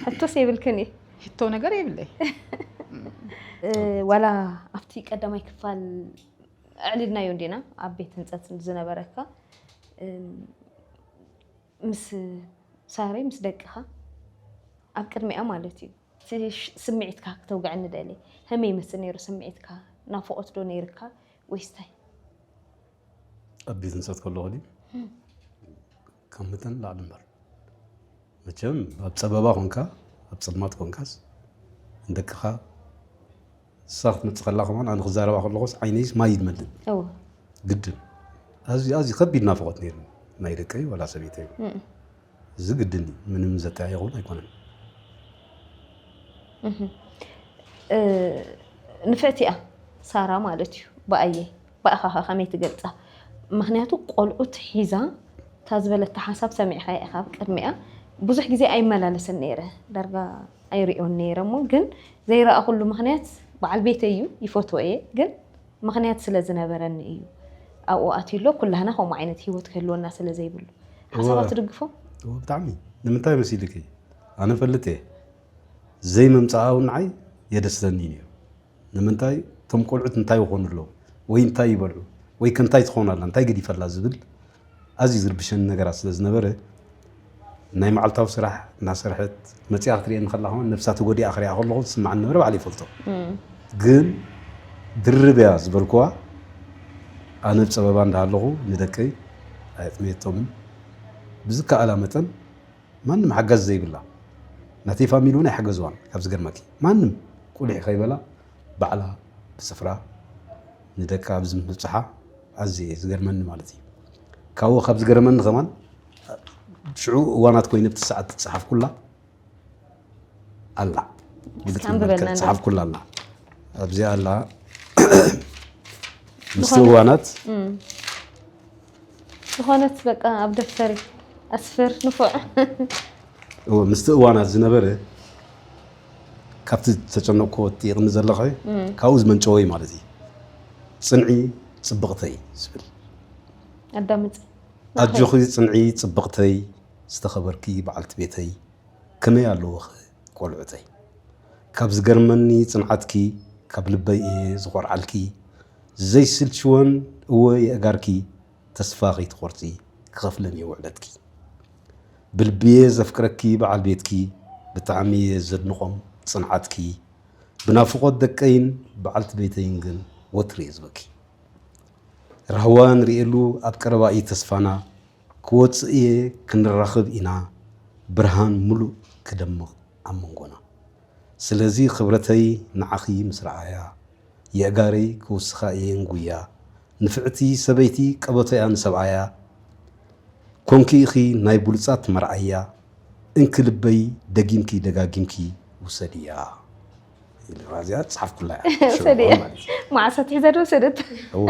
ሕቶስ
የብልክን እዩ ሕቶ ነገር
የብለይ
ዋላ ኣብቲ ቀዳማይ ክፋል ኣዕሊልናዮ እንዲና ኣብ ቤት ህንፀት ዝነበረካ ምስ ሳሪ ምስ ደቅኻ ኣብ ቅድሚኣ ማለት እዩ ስምዒትካ ክተውግዐኒ ደሊ ከመይ ይመስል ነይሩ ስምዒትካ ናፍቆት ዶ ነይርካ ወይስ ታይ?
ኣብ ቤት ንሰት ከለኹ ድዩ ካብ መጠን ላዕሊ እምበር መቸም ኣብ ፀበባ ኮንካ ኣብ ፀልማት ኮንካስ ንደቅኻ ንሳ ክትመፅእ ከላ ከማን ኣነ ክዛረባ ከለኹስ ዓይነይስ ማይ ይመልእ እወ ግድን ኣዝዩ ኣዝዩ ከቢድ ናፍቆት ነይሩ ናይ ደቀይ ወላ ሰበይተይ እዚ ግድን እዩ፣ ምንም ዘጠያይቕ እውን ኣይኮነን።
ንፈቲኣ ሳራ ማለት እዩ ብኣየ ብኣኻ ኸ ከመይ ትገልፃ? ምክንያቱ ቆልዑት ሒዛ እታ ዝበለታ ሓሳብ ሰሚዕኻ ኢኻ ኣብ ቅድሚኣ ብዙሕ ግዜ ኣይመላለስን ነይረ ዳርጋ ኣይሪኦን ነይረ እሞ ግን ዘይረኣኹሉ ምክንያት በዓል ቤተይ እዩ ይፈትዎ እየ ግን ምኽንያት ስለ ዝነበረኒ እዩ ኣብኡ ኣትዩ ኣሎ። ኩላህና ከምኡ ዓይነት ህይወት ክህልወና ስለ ዘይብሉ። ሓሳባ ትድግፎ? እወ ብጣዕሚ።
ንምንታይ መሲልኪ? ኣነ እፈልጥ እየ። ዘይምምፅኣ እውን ንዓይ የደስተኒ እዩ ነይሩ። ንምንታይ እቶም ቆልዑት እንታይ ይኾኑ ኣለዉ? ወይ እንታይ ይበልዑ? ወይ ከ እንታይ ትኾን ኣላ? እንታይ ገዲፈላ? ዝብል ኣዝዩ ዝርብሸኒ ነገራት ስለ ዝነበረ ናይ መዓልታዊ ስራሕ እናሰርሐት መፂኣ ክትሪኤኒ ከላ ከማን ነብሳ ተጎዲኣ ክሪኣ ከለኹ ዝስማዓኒ ዝነበረ ባዕለይ ይፈልጦ ግን ድርብ እያ ዝበልኩዋ ኣነ ብ ፀበባ እንዳሃለኹ ንደቀይ ኣየጥመየቶምን ብዝከኣላ መጠን ማንም ሓጋዚ ዘይብላ ናተይ ፋሚሊ እውን ኣይሓገዝዋን ካብ ዝገርመኪ ማንም ቁሊሕ ከይበላ ባዕላ ብፅፍራ ንደቃ ኣብዚ ምብፅሓ ኣዝዩ እየ ዝገርመኒ ማለት እዩ ካብኡ ካብ ዝገርመኒ ከማን ሽዑ እዋናት ኮይነ ብቲ ሰዓት ትፀሓፍኩላ ኣላ ፀሓፍኩላ ኣላ ኣብዚኣ ኣላ ምስቲ እዋናት
ዝኾነት በቃ ኣብ ደፍተር ኣስፍር ንፉዕ
ምስቲ እዋናት ዝነበረ ካብቲ ዝተጨነቕክዎ ትጥይቕኒ ዘለኺ ካብኡ ዝመንጨወ እዩ ማለት እዩ። ፅንዒ ፅብቕተይ ዝብል
ኣዳምፅ ኣጆኺ
ፅንዒ ፅብቕተይ ዝተኸበርኪ በዓልቲ ቤተይ ከመይ ኣለውኺ ቆልዑተይ ካብ ዝገርመኒ ፅንዓትኪ ካብ ልበይ እየ ዝኾርዓልኪ ዘይስልችወን እወ የእጋርኪ ተስፋ ከይትቆርጺ ክኸፍለን እየ ውዕለትኪ ብልቢየ ዘፍቅረኪ በዓል ቤትኪ ብጣዕሚ እየ ዘድንቆም ጽንዓትኪ ብናፍቆት ደቀይን በዓልቲ ቤተይን ግን ወትሩ እየ ዝበኪ ራህዋ ንርእየሉ ኣብ ቀረባ እዩ ተስፋና ክወጽእ እየ ክንራኽብ ኢና ብርሃን ሙሉእ ክደምቕ ኣብ መንጎና ስለዚ ክብረተይ ንዓኺ ምስ ረኣያ የእጋረይ ክውስኻ እየ እንጉያ ንፍዕቲ ሰበይቲ ቀበቶያ ንሰብኣያ ኮንኪ ኢኺ ናይ ቡሉጻት መርኣያ እንኪ ልበይ ደጊምኪ ደጋጊምኪ ውሰድያ ኢልዋ እዚኣ ጻሓፍኩላ እያ ሽዑ ውሰድያ። እዋን
ማለት እዩ። መዓስ ኣትሒዛ ዶ ወሰደታ? እዎ፣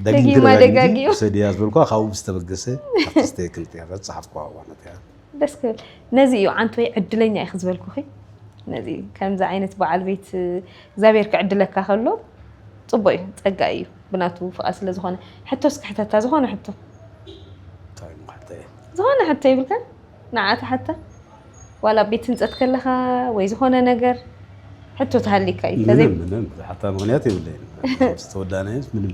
ደጊምኪ ደጊማ ደጋጊምኪ
ደጋጊሙ። ውሰድያ ዝበልኩዋ ካብኡ ብዝተበገሰ ኣብቲ ዝተየክንት እያ እዛ ዝጻሓፍኩዋ እዋናት እያ። ደስ ክብል
ነዚ እዩ ዓንቶይ ዕድለኛ ኢኺ ዝበልኩኺ ነዚ እዩ ከምዚ ዓይነት በዓል ቤት እግዚኣብሔር ክዕድለካ ከሎ ፅቡቅ እዩ ፀጋ እዩ ብናቱ ፍቃድ ስለ ዝኾነ ሕቶ እስኪ ሕተታ ዝኾነ ሕቶ ዝኾነ ሕቶ ይብልካ ንዓ ተሓታ ዋላ ኣብ ቤት ህንፀት ከለኻ ወይ ዝኾነ ነገር ሕቶ ተሃሊካ እዩ ምንም ምንም ዝሓታ
ምክንያት የብለይን ዝተወዳነ ምንም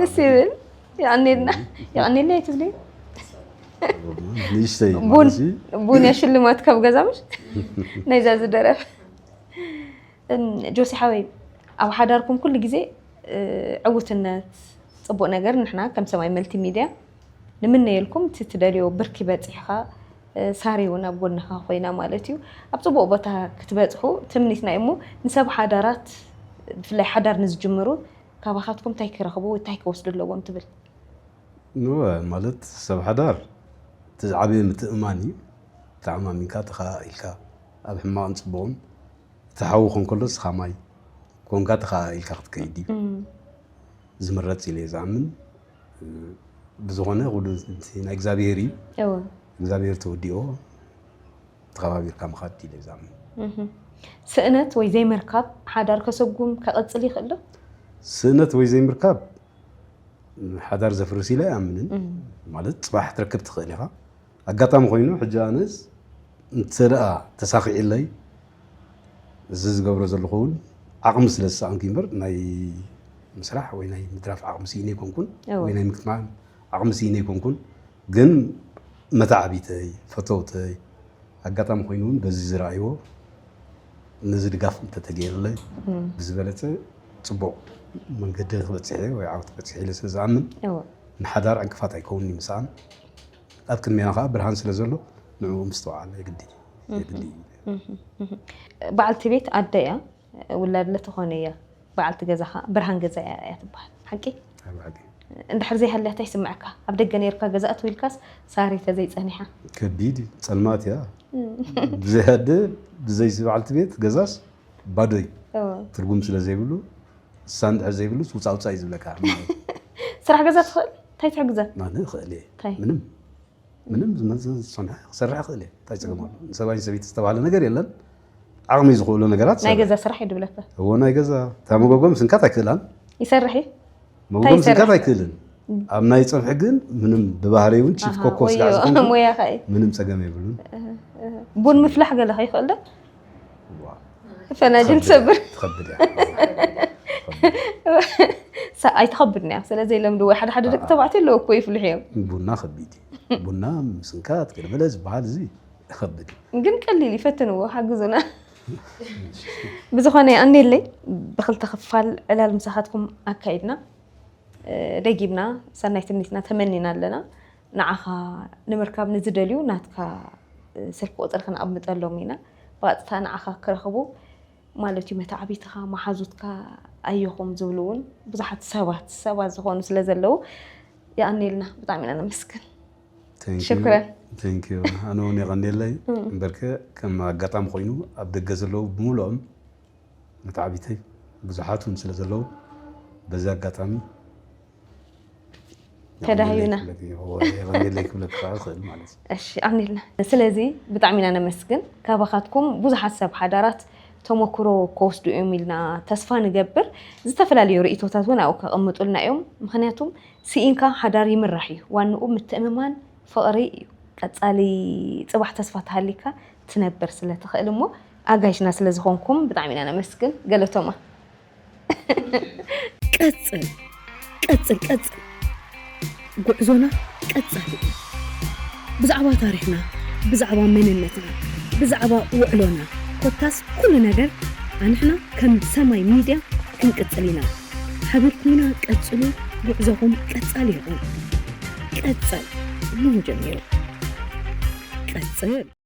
ደስ ይብል የቀኔልና የቀኔልና የትብለ ንእሽተይ ቡን እዚ ቡን እያ ሽልማት ካብ ገዛ ምሽ ናይዛ ዝደረፍ እም፣ ጆሲ ሓወይ ኣብ ሓዳርኩም ኩሉ ግዜ እ፣ ዕውትነት ፅቡቅ ነገር ንሕና ከም ሰማይ መልቲ ሚድያ ንምነየልኩም እቲ ትደልዮ ብርኪ በፂሕኻ እ፣ ሳሪ እውን ኣብ ጎንኻ ኮይና ማለት እዩ ኣብ ፅቡቅ ቦታ ክትበፅሑ ትምኒትና እዩ እሞ ንሰብ ሓዳራት ብፍላይ ሓዳር ንዝጅምሩ ካባኻትኩም ታይ ክረኽቡ ወይ ታይ ክወስዱ ኣለዎም ትብል? እወ
ማለት ሰብ ሓዳር እቲ ዝዓበየ ምትእምማን እዩ። ተኣማሚንካ ተኸኣኢልካ ኣብ ሕማቕን ፅቡቕን እቲ ሓዊ ክኾን ከሎ ንስኻ ማይ ኮንካ ተኸኣኢልካ ክትከይድ እዩ ዝምረፅ ኢለ እየ ዝኣምን። ብዝኾነ ኩሉ ናይ እግዚኣብሄር እዩ እግዚኣብሄር ተወዲእዎ። ተኸባቢርካ ምኻድ እቲ ለዛም።
ስእነት ወይ ዘይምርካብ ሓዳር ከሰጉም ከቐፅል ይኽእል ዶ? ስእነት ወይ
ዘይምርካብ ሓዳር ዘፍርስ ኢለ ኣይኣምንን። ማለት ፅባሕ ትረክብ ትኽእል ኢኻ። ኣጋጣሚ ኮይኑ ሕጂ ኣነስ እንተደኣ ተሳኺዕለይ እዚ ዝገብሮ ዘለኹ እውን ዓቕሚ ስለ ዝሰኣንኩ እምበር ናይ ምስራሕ ወይ ናይ ምትራፍ ዓቕሚ ስኢነ ኣይኮንኩን ወይ ናይ ምክትማን ዓቕሚ ስኢነ ኣይኮንኩን። ግን መተዓቢተይ፣ ፈተውተይ፣ ኣጋጣሚ ኮይኑ እውን በዚ ዝረኣይዎ ነዚ ድጋፍ እንተተገይርለይ ብዝበለፀ ፅቡቕ መንገዲ ክበፅሕ እየ ወይ ዓወት ክበፅሕ ኢለ ስለ ዝኣምን እወ ንሓዳር ዕንቅፋት ኣይከውንን እዩ ምስኣን ኣብ ቅድሜና ከዓ ብርሃን ስለ ዘሎ ንዕኡ ምስትውዓል የግዲ የግዲ እዩ።
በዓልቲ ቤት ኣደ እያ ውላድ ለተኾነ እያ በዓልቲ ገዛኻ ብርሃን ገዛይ ኣርኣያ ትበሃል ሓቂ እንድሕር ዘይሃልያ ታይ ይስመዐካ ኣብ ደገ ነይርካ ገዛ እትው ኢልካስ ሳሪ ተዘይ ፀኒሓ ከቢድ እዩ
ፀልማት እያ ብዘይ ኣደ ብዘይ በዓልቲ ቤት ገዛስ ባዶ እዩ ትርጉም ስለ ዘይብሉ ንሳ እንድሕር ዘይብሉስ ውፃውፃ እዩ ዝብለካ ስራሕ
ገዛ ትኽእል እንታይ ትሕግዘ ኣነ እኽእል እየ
ምንም ምንም ዝመዝን ዝፀንሐ ክሰርሕ ይኽእል እየ እንታይ ፀገም ኣሎ ንሰብኣይ ሰበይቲ ዝተባሃለ ነገር የለን ዓቕሚ ዝኽእሉ ነገራት ናይ ገዛ ስራሕ እዩ ድብለካ
እዎ ናይ ገዛ
እታ መጎጎ ምስንካት ኣይክእላን ይሰርሕ እዩ
መጎጎ ምስንካት
ኣይክእልን ኣብ ናይ ፀብሒ ግን ምንም ብባህሪ እውን ቺፍ ኮኮ ስጋዕ ዝኾንኩ ምንም
ፀገም የብሉን
ቡን
ምፍላሕ ገለኸ ይኽእል ዶ ፈናጅል ትሰብር ትኸብድ
እያ
ሳ- ኣይትኸብድን እያ ስለዘይለምድ ወይ ሓደ ሓደ ደቂ ተባዕትዮ ኣለዎ እኮ ይፍልሑ እዮም ቡና ከቢድ እዩ
ቡና ምስንካት ገለመለ ዝበሃል እዚ ይኸብድ እዩ ግን ቀሊል
ይፈትንዎ ሓግዙና ብዝኾነ ኣንዴለይ ብክልተ ክፋል ዕላል ምሳኻትኩም ኣካይድና እ፣ ደጊምና ሰናይ ትምኒትና ተመኒና ኣለና ንዓኻ ንምርካብ ንዝደልዩ ናትካ ስልኪ ቁፅሪ ክንኣምጠሎም ኢና። ብቐጥታ ንዓኻ ክረኽቡ ማለት እዩ መታዕቢትኻ፣ መሓዙትካ ኣየኹም ዝብሉ እውን ብዙሓት ሰባት ሰባት ዝኾኑ ስለ ዘለዉ የቐኔልና ብጣዕሚ ኢና ነመስግን። ሽኩረን። ቴንኪዩ
ኣነ እውን የቐኔለይ። እምበርከ ከም ኣጋጣሚ ኮይኑ ኣብ ደገ ዘለዉ ብምሉኦም መታዕቢተይ ብዙሓት እውን ስለ ዘለዉ በዚ ኣጋጣሚ
ተዳሂብና ሌክ
ምልክ ክኸእል ይኽእል ማለት እዩ እሺ ኣምኒልና
ስለዚ ብጣዕሚ ኢና ነመስግን ካባኻትኩም ብዙሓት ሰብ ሓዳራት ተሞክሮ ከወስዱ እዮም ኢልና ተስፋ ንገብር ዝተፈላለዩ ርእቶታት እውን ኣብኡ ከቐምጡልና እዮም ምክንያቱም ስኢንካ ሓዳር ይምራሕ እዩ ዋንኡ ምትእምማን ፍቕሪ እዩ ቀፃሊ ፅባሕ ተስፋ ተሃሊካ ትነብር ስለትኽእል እሞ ኣጋይሽና ስለዝኾንኩም ብጣዕሚ ኢና ነመስግን ገለቶማ ቀጽል
ቀጽል ቀጽል ጉዕዞና ቀጻሊ እዩ ብዛዕባ ታሪኽና ብዛዕባ መንነትና ብዛዕባ ውዕሎና ኮታስ ኩሉ ነገር ኣንሕና ከም ሰማይ ሚድያ ክንቅጽል ኢና ሓቢርኩምና ቀጽሉ ጉዕዞኹም ቀጻሊ ይኹን ቀጸል እሞ ጀሚሩ ቀጽል